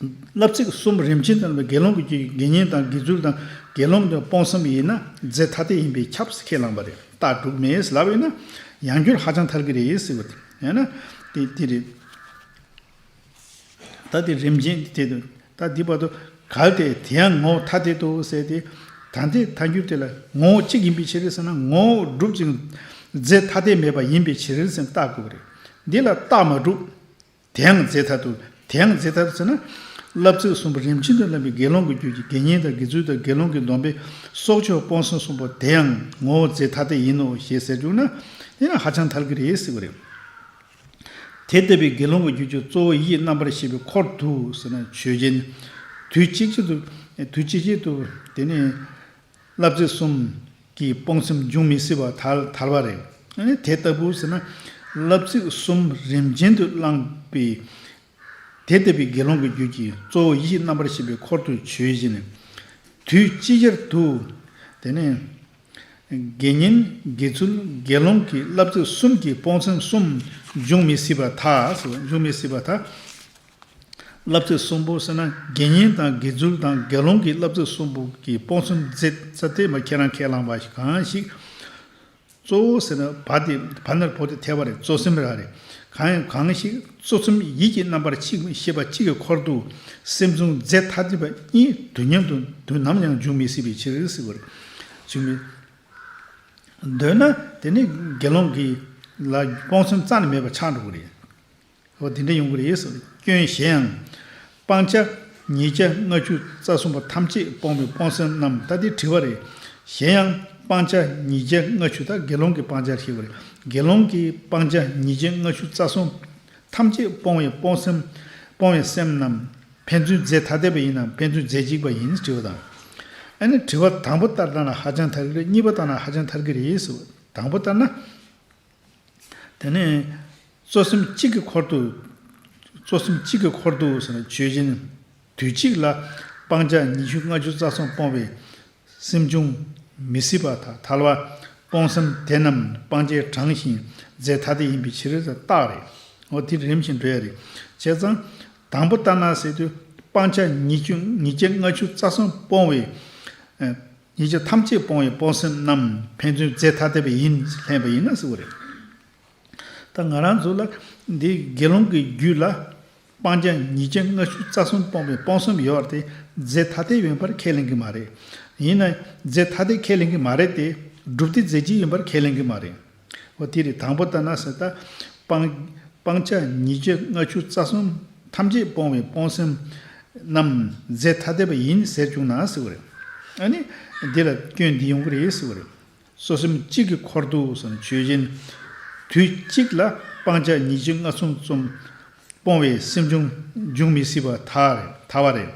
བསླབ་ཚིག་གསུམ་རིམ་ཅན་བསྟན་པའི་དགེ་སློང་གི་རྒྱུད་ཀྱི་དགེ་བསྙེན་དང་དགེ་ཚུལ་དང་དགེ་སློང་གི་སྤོང་བསམ་ཡིན་ན་རྫས་ཐ་དད་ཡིན་པས་ཁྱབ་ཁས་བླངས་པ་རེད་ལྟ་དྲུག་མེད་ཟླ་བས་ན་ཡང་རྒྱུད་ཧ་ཅང་ཐར་གི་རེད་ཟེར་བ་དེ་ན་དེ་དེ་རེད། ད་དེ་རིམ་ཅན་དེ་ཐད་དུ་ད་དེ་བར་དུ་གལ་ཏེ་དེ་ཡང་ངོ་བོ་ཐ་དད་དུ་ཟད་དེ་ད་དེ་ཐ་འགྱུར་དེ་ལ་ངོ་བོ་གཅིག་ཡིན་པའི་ཕྱིར་ཟེར་ན་ངོ་བོ་གྲུབ་ཅིང་རྫས་ཐ་དད་མེད་པ་ཡིན་པའི་ཕྱིར་ཟེར་ན་ལྟ་དགོས་པ་རེད་འདི་ལ་རྟགས་མ་གྲུབ། དེའང་རྫས་ཐ་དུ། དེའང་རྫས་ཐ་དུ་ཟེར་ན། བསླབ་ཚིག་གསུམ་པོ་རིམ་ཅན་དུ་བསླབ་པའི་དགེ་སློང་གི་རྒྱུད་ཀྱི་དགེ་བསྙེན་དང་དགེ་ཚུལ་དང་དགེ་སློང་གི་སྡོམ་པའི་སྲོག་ཆགས་སྤོང་གསུམ་གསུམ་པོ་དེའང་ངོ་བོ་རྫས་ཐ་དད་ཡིན་ནོ་ཞེས་ཟེར་གྱུར་ན། དེ་ནི་ཧ་ཅང་ཐལ་གྱི་རེད་སྲིད་པ་རེད། དེ་ལྟ་བུའི་དགེ་སློང་གི་རྒྱུད་ཀྱི་གཙོ་བོ་ཡིད་རྣམ་པར་ཤེས་པའི་འཁོར་དུ་ཟེར་ན་ཆོས་ཅན། དུས་གཅིག་ཅིག་ཏུ། དུས་གཅིག་ཅིག་ཏུ། དེ་ནི། བསླབ་བྱ་གསུམ་གྱིས་སྤོང་སེམས་འབྱུང་མི་སྲིད་པ་དར་བ་རེད། དེ་ལྟ་བུ་ཟེར་ན། བསླབ་ཚིག་གསུམ་རིམ་ཅན་དུ་བླངས་པས། དེ་ལྟ་བུའི་དགེ་སློང་གི་རྒྱུད་ཀྱི་གཙོ་བོ་ཡིད་ཤེས་རྣམ་པར་ཤེས་པའི་འཁོར་དུ་བྱོས་བཞིན་ནི། དུས་ཅི་ཆར་དུ། དེ་ནས། དགེ་བསྙེན་དགེ་ཚུལ་དགེ་སློང་གི་བསླབ་ཚིག་གསུམ་གྱིས་སྤོང་སེམས་གསུམ་འབྱུང་མི་སྲིད་པ་དག། བསླབ་ཚིག་གསུམ་པོ་ཟེར་ན་དགེ་བསྙེན་དང་དགེ་ཚུལ་དང་དགེ་སློང་གི་བསླབ་ཚིག་གསུམ་པོ་གི་སྤོང་གསུམ་མཛད་ས་དེ་མ་ཁྱེད་རང་ཁས་བླངས་པ་ཞིག་གང་ཞིག། གཙོ་བོ་ཟེར་ན་བ་དེ་བ་ནར་བོ་དེ་ཐལ་བ་རེད་གཙོ་སེམས་ར་རེད་གང་ཡང་གང་ཞིག་གཙོ་སེམས་ཡིད་ཀྱི་རྣམ་པར་ཆིག་ཤེས་པ་གཅིག་གི་འཁོར་དུ་སེམས་བཟུང་རྫས་ཐ་དད་པ་གཉིས་དུས་མཉམ་དུ་དུས་ནམ་ཡང་འཇུག་མི་སྲིད་པའི་ཕྱིར་ཟེར་བ་རེད། འཇུག་མི་འདོད་ན་དེ་ནི་དགེ་སློང་གིས་ལ་སྤོང་སེམས་རྩ་ནས་མེད་པ་ཆགས་འགྲོ་གི་རེད། འོ་དེ་འདྲ་ཡོང་གི་རེད་བསམ་སྐྱོན་གཞན་ཡང། སྤང་བྱ། ཉེས་བྱ་ལྔ་བཅུ་རྩ་གསུམ་པ་ཐམས་ཅད་སྤོང་བའི་སྤོང་སེམས་རྣམས་ལྟ་སྟེ་དྲི་བ་རེད། གཞན་ཡང། སྤང་བྱ་ཉེས་བྱ་ལྔ་བཅུ་དག་དགེ་སློང་གི་སྤང་བྱར་ཤེས་པ་རེད། དགེ་སློང་གིས་སྤང་བྱ་ཉེས་བྱ་ལྔ་བཅུ་རྩ་གསུམ། ཐམས་ཅད་སྤོང་བའི་སྤོང་སེམས། སྤོང་བའི་སེམས་རྣམས། ཕན་ཚུན་རྫས་ཐ་དད་པ་ཡིན་ནམ་ཕན་ཚུན་རྫས་གཅིག་པ་ཡིན་དྲི་བ་དང། ཨ་ནི་དྲི་བ་དང་པོ་ལྟར་བཏང་ན་ཧ་ཅང་ཐལ་གྱི་རེད་གཉིས་པ་བཏང་ན་ཧ་ཅང་ཐལ་གྱི་རེད་བསམ། དང་པོ་ལྟར་ན། དེ་ནས། གཙོ་སེམས་གཅིག་གི་འཁོར་དུ། གཙོ་སེམས་གཅིག་གི་འཁོར་དུ། ཆོས་ཅན། དུས་གཅིག་ལ། སྤང་བྱ་ཉི་ཤུ་ལྔ་བཅུ་རྩ་གསུམ་སྤོང་བའི། སེམས་བྱུང། མི་སྲིད་པ་དག་ཐལ་བ། སྤོང་སེམས་དེ་རྣམས་སྤང་བྱའི་གྲངས་བཞིན། རྫས་ཐ་དད་ཡིན་པའི་ཕྱིར། རྟགས་རེད། འོ་དེ་རིམ་བཞིན་འགྲོ་ཡ་རེད། བྱས་ཙང། དང་པོ་ལྟར་ན་ཟེར་དུས། སྤང་བྱ་ཉི་ཤུ་ལྔ་བཅུ་རྩ་གསུམ་སྤོང་བའི། ཉེས་བྱས་ཐམས་ཅད་སྤོང་བའི་སྤོང་སེམས་རྣམས་ཕན་ཚུན་རྫས་ཐ་དད་པ་ཡིན་ལྷན་པ་ཡིན་ན་གཟིགས་པ་རེད། ད་ང་རང་ཚོ་ལ་འདི་དགེ་སློང་གི་རྒྱུད་ལ་སྤང་བྱ་ཉེས་བྱས་ལྔ་བཅུ་རྩ་གསུམ་སྤོང་བའི་སྤོང་སེམས་ཡོད་བ་དེ་རྫས་ཐ་དད་ཡིན་པར་ཁས་ལེན་གི་མ་རེད། ཡིན་ན་རྫས་ཐ་དད་ཁས་ལེན་གི་མ་རེད་དེ། སྒྲུབ་སྡེ་རྫས་གཅིག་ཡིན་པར་ཁས་ལེན་གི་མ་རེད། བ་དེ་རེད་དང་པོ་ལྟར་ན་ཟད་ད། སྤང། སྤང་བྱ་ཉིད་སྤྱིར་ལྔ་ཆུ་རྩ་གསུམ། ཐམས་ཅད་སྤོང་བའི་སྤོང་སེམས། རྣམས། རྫས་ཐ་དད་པ་ཡིན་ཟེར་བྱུང་ན་ཟེར་བ་རེད། ཨ་ནི། འདི་ལ་སྐྱོན་འདི་ཡོང་གི་རེད་ཟེར་བ་རེད། སོ་སེམས་གཅིག་གི་འཁོར་དུ་བསམ་ཆོས་ཅན། དུས་གཅིག་ལ་སྤང་བྱ་ཉིད་སྤྱིར་ལྔ་གསུམ་རྩོམ། སྤོང་བའི་སེམས་འབྱུང། འབྱུང་མི་སྲིད་པ་ཐ། ཐ་བ་རེད།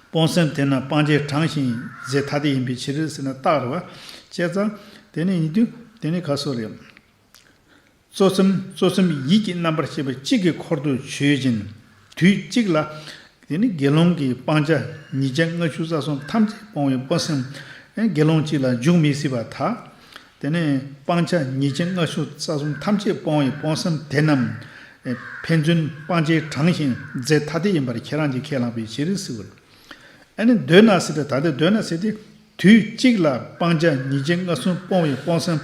སྤོང་སེམས་དེ་ན་སྤང་བྱའི་གྲངས་བཞིན་ཡིན། རྫས་ཐ་དད་ཡིན་པའི་ཕྱིར་ཟེར་ན་བཏགས་རེད་བ། བཅད་རྩ། དེ་ནི་ཡིན་དུས་དེ་ནི་ག་སོ་རེད། གཙོ་སེམས་གཙོ་སེམས་ཡིད་ཀྱི་རྣམ་པར་ཤེས་པ་གཅིག་གི་འཁོར་དུ་ཆོས་ཅན། དུས་གཅིག་ལ། དེ་ནི་དགེ་སློང་གིས་སྤང་བྱ་ཉིས་བརྒྱ་ལྔ་བཅུ་རྩ་གསུམ་ཐམས་ཅད་སྤོང་བའི་སྤོང་སེམས། དགེ་སློང་གཅིག་ལ་འཇུག་མི་སྲིད་པ་དག། དེ་ནས་སྤང་བྱ་ཉེས་བྱས་ལྔ་ཕྱོགས་རྩ་གསུམ་ཐམས་ཅད་སྤོང་བའི་སྤོང་བསམ་དེ་རྣམས། ཕན་ཚུན་སྤང་བྱའི་གྲངས་བཞིན་རྫས་ཐ་དད་ཡིན་པར་ཁྱེད་རང་གིས་ཁས་བླངས་པའི་ཕྱིར་རིགས་སུ་བར། ཨ་ནི་འདོད་ན་སྲིད་དེ་ད་ལྟའི་འདོད་ན་སྲིད་དེ། དུས་གཅིག་ལ་སྤང་བྱ་ཉེས་བྱས་ལྔ་གསུམ་སྤོང་བའི་སྤོང་བསམ་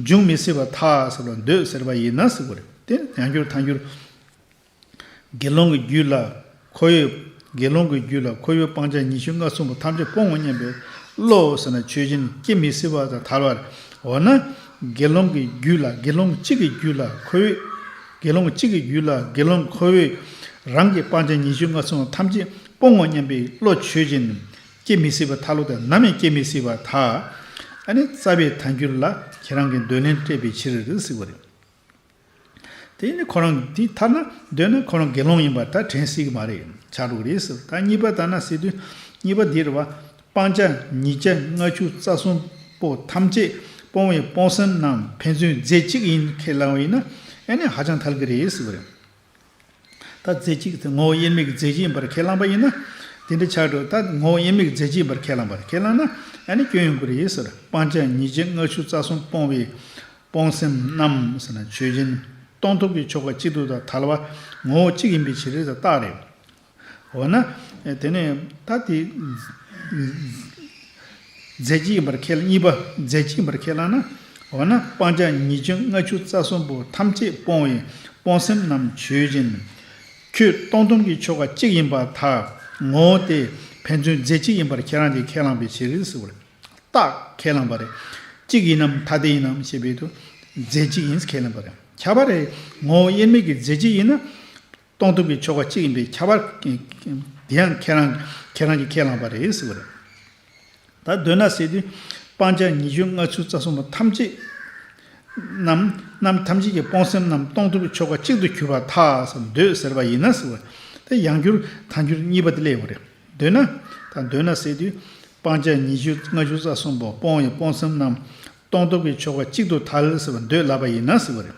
འབྱུང་མི་སྲིད་པ་ཐག་ཟབ་ལ་འདོད་ཟེར་བ་ཡིན་ན་སྲིད་བར། དེ་ཡང་འགྱུར་མཐའ་འགྱུར། དགེ་སློང་གི་རྒྱུད་ལ་ཁོ་ཡོད། དགེ་སློང་གི་རྒྱུད་ལ་ཁོ་ཡོད་སྤང་བྱ་ཉི་ཤུ་རྔ་གསུམ་པོ་ཐམས་ཅད་སྤོང་ངོ་སྙམ་པའི་བློའོ་ཟེར་ན་ཆོས་ཅན་སྐྱེ་མི་སྲིད་པ་དང་ཐལ་བར་འོ་ན། དགེ་སློང་གི་རྒྱུད་ལ་དགེ་སློང་གཅིག་གི་རྒྱུད་ལ་ཁོ་ཡོད། དགེ་སློང་གཅིག་གི་རྒྱུད་ལ་དགེ་སློང་ཁོ་ཡོད་རང་གི་སྤང་བྱ་ཉི་ཤུ་རྔ་གསུམ་པོ་ཐམས་ཅད་སྤོང་ངོ་སྙམ་པའི་བློ་ཆོས་ཅན་སྐྱེ་མི་སྲིད་པ་ཐལ་ལོ་དང་ནམ་ཡང་སྐྱེ་མི་སྲིད་པ་དག། ཨ་ནི་རྩ་བའི་ཐལ་འགྱུར་ལ་ཁྱེད་རང་གིས་འདོད་ལན་སྤྲད་པའི་ཕྱིར་ཟིག་པ་རེད། དེ་ནི་ཁོ་རང་དེ་ཐར་ན་འདོད་ན་ཁོ་རང་དགེ་སློང་ཡིན་པ་ད་དྲན་སྲིད་ཀྱི་མ་རེད་བྱ་འགྲོ་གི་རེད་ཟེར་ད་གཉིས་པ་ད་ན་སྲིད་དུས་གཉིས་པ་འདིར་བ་སྤང་བྱ་ཉིས་བྱ་ལྔ་བཅུ་རྩ་གསུམ་པོ་ཐམས་ཅད་སྤོང་བའི་སྤོང་སེམས་རྣམས་ཕན་ཚུན་རྫས་གཅིག་ཡིན་ཁས་བླང་བ་ཡིན་ན་ཨེ་ནས་ཧ་ཅང་ཐལ་གྱི་རེད་ཟེར་བ་རེད། ད་རྫས་གཅིག་གི་ངོ་བོ་དབྱེར་མེད་ཀྱི་རྫས་གཅིག་ཡིན་པར་ཁས་བླངས་པ་ཡིན་ན། དེ་འདྲའི་ཆ་དྲུག་ད་ངོ་བོ་དབྱེར་མེད་ཀྱི་རྫས་གཅིག་ཡིན་པར་ཁས་བླངས་པར་ཁས་བླངས་ན། ཡང་ནི་སྐྱོན་ཡོང་གི་རེད་ཟེར། སྤང་བྱ་ཉིད་ཅེས་ལྔ་ཆུ་རྩ་གསུམ་སྤོང་བའི། སྤོང་སེམས་རྣམས། ཆོས་ཅན། སྟོང་ཐུག་གི་ཆོ་ག་གཅིག་ཏུ་ད་ཐལ་བ། ངོ་བོ་གཅིག་ཡིན་པའི་ཕྱིར་རེད་ད་རྟགས་རེད། འོ་ན། དེ་ནས་ད་དེ། རྫས་ཀྱི་ཡིན་པར་ཁས་བླངས་གཉིས་པ་རྫས་ཀྱི་ཡིན་པར་ཁས་བླངས་ན། འོ་ན་སྤང་བྱ་ཉིད་བཅོ་ལྔ་ཆུ་རྩ་གསུམ་པོ་ཐམས་ཅད་སྤོང་བའི་སྤོང་སེམས་རྣམས་ཆོས་ཅན། ཁྱོད་སྟོང་སྟོང་གི་ཆོ་ག་གཅིག་ཡིན་པ་དག་ངོ་བོ་སྟེ། ཕན་ཚུན་རྫས་གཅིག་ཡིན་པར་ཁས་བླངས་ཏེ་ཁས་བླངས་པའི་ཕྱིར་ཟེར་བ་རེད། རྟགས་ཁས་བླངས་པ་རེད། གཅིག་ཡིན་ནམ་ཐ་དད་ཡིན་ནམ་ཞེས་པའི་དུས། རྫས་གཅིག་ཡིན་ཁས་ལེན་པ་རེད། ཁྱབ་པ་རེད། ངོ་བོ་དབྱེར་མེད་ཀྱི་རྫས་གཅིག་ཡིན་ན། གཏོང་ཐུབ་ཀྱི་ཆོ་ག་གཅིག་ཡིན་པས་ཁྱད་པར་དེ་ཡང་ཁྱེད་རང་གིས་ཁས་བླངས་པ་རེད་ཟེར་བ་རེད། ད་གདོད་ན་ཟེར་དུས་སྤང་བྱ་ཉི་ཤུ་ལྔ་བཅུ་རྩ་གསུམ་པོ་ཐམས་ཅད་རྣམས་ཐམས་ཅད་ཀྱི་སྤོང་སེམས་རྣམས་གཏོང་ཐུབ་ཀྱི་ཆོ་ག་གཅིག་ཏུ་གྱུར་པ་ཐགས་འདོད་ཟེར་བ་ཡིན་ན་ཟེར་བ་དེ་ཡང་འགྱུར་ད་འགྱུར་གཉིས་པ་དེ་སླེབས་ཡོང་བ་རེད། ད་གདོད་ན་ཟེར་དུས་སྤང་བྱ་ཉི་ཤུ་ལྔ་བཅུ་རྩ་གསུམ་པོ་སྤོང་བའི་སྤོང་སེམས་རྣམས་གཏོང་ཐུབ་ཀྱི་ཆོ་ག་གཅིག་ཏུ་ཐལ་ཟེར་བ་འདོད་ལབ་པ་ཡིན་ན་ཟེར་བ་རེད།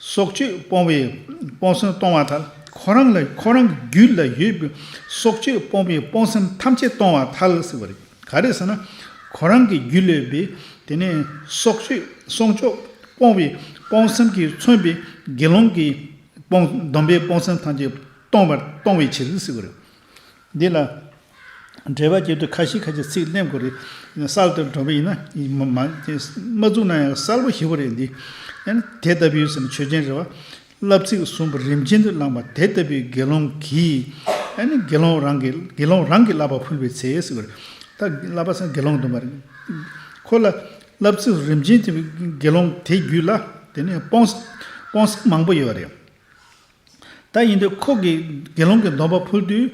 སྲོག་གཅོད་སྤོང་བའི་སྤོང་སེམས་གཏོང་བ་ཐལ། ཁོ་རང་ལ་ཁོ་རང་གི་རྒྱུད་ལ་ཡོད་པའི་སྲོག་གཅོད་སྤོང་བའི་སྤོང་སེམས་ཐམས་ཅད་གཏོང་བ་ཐལ་ཟེར་བ་རེད། ག་རེ་ཟེར་ན། ཁོ་རང་གི་རྒྱུད་ལས་པའི་དེ་ནས་སྲོག་གཅོད་སྲོང་གཅོད་སྤོང་བའི་སྤོང་སེམས་ཀྱིས་མཚོན་པའི་དགེ་སློང་གི་སྡོམ་པའི་སྤོང་སེམས་ཐམས་ཅད་གཏོང་བར་གཏོང་བའི་ཕྱིར་ཟེར་བ་རེད། འདི་ལ་འགྲེལ་པ་གྱེར་དུས་ཁ་ཤིས་ཁ་ཤིས་ཚིག་ལྷད་མགོ་རེད། གསར་དུ་འབྲོག་པ་ཡིན་ན་མ་བཙུགས་ན་ཡང་གསར་བུ་ཞིག་པོ་རེད་འདི། དེ་ལྟ་བུའི་ཟེར་ན་ཆོས་ཅན་རེད་བ། བསླབ་ཚིག་གསུམ་པོ་རིམ་ཅན་དུ་བླངས་པ་དེ་ལྟ་བུའི་དགེ་སློང་གིས། དགེ་སློང་རང་གིས་དགེ་སློང་རང་གིས་བསླབ་པ་ཕུལ་བའི་ཚེ། ད་བསླབ་པ་ཟེར་ན་དགེ་སློང་འདོན་པ་རེད། ཁོ་ལ་བསླབ་ཚིག་རིམ་ཅན་དེ་དགེ་སློང་དེ་བརྒྱུད་ལ་དེ་ནས་སྤོང་སྤོང་ས་མང་པོ་ཡོད་རེད། ད་ཡིན་དུས་ཁོ་གིས་དགེ་སློང་གི་སྡོམ་པ་འཕུལ་དུས།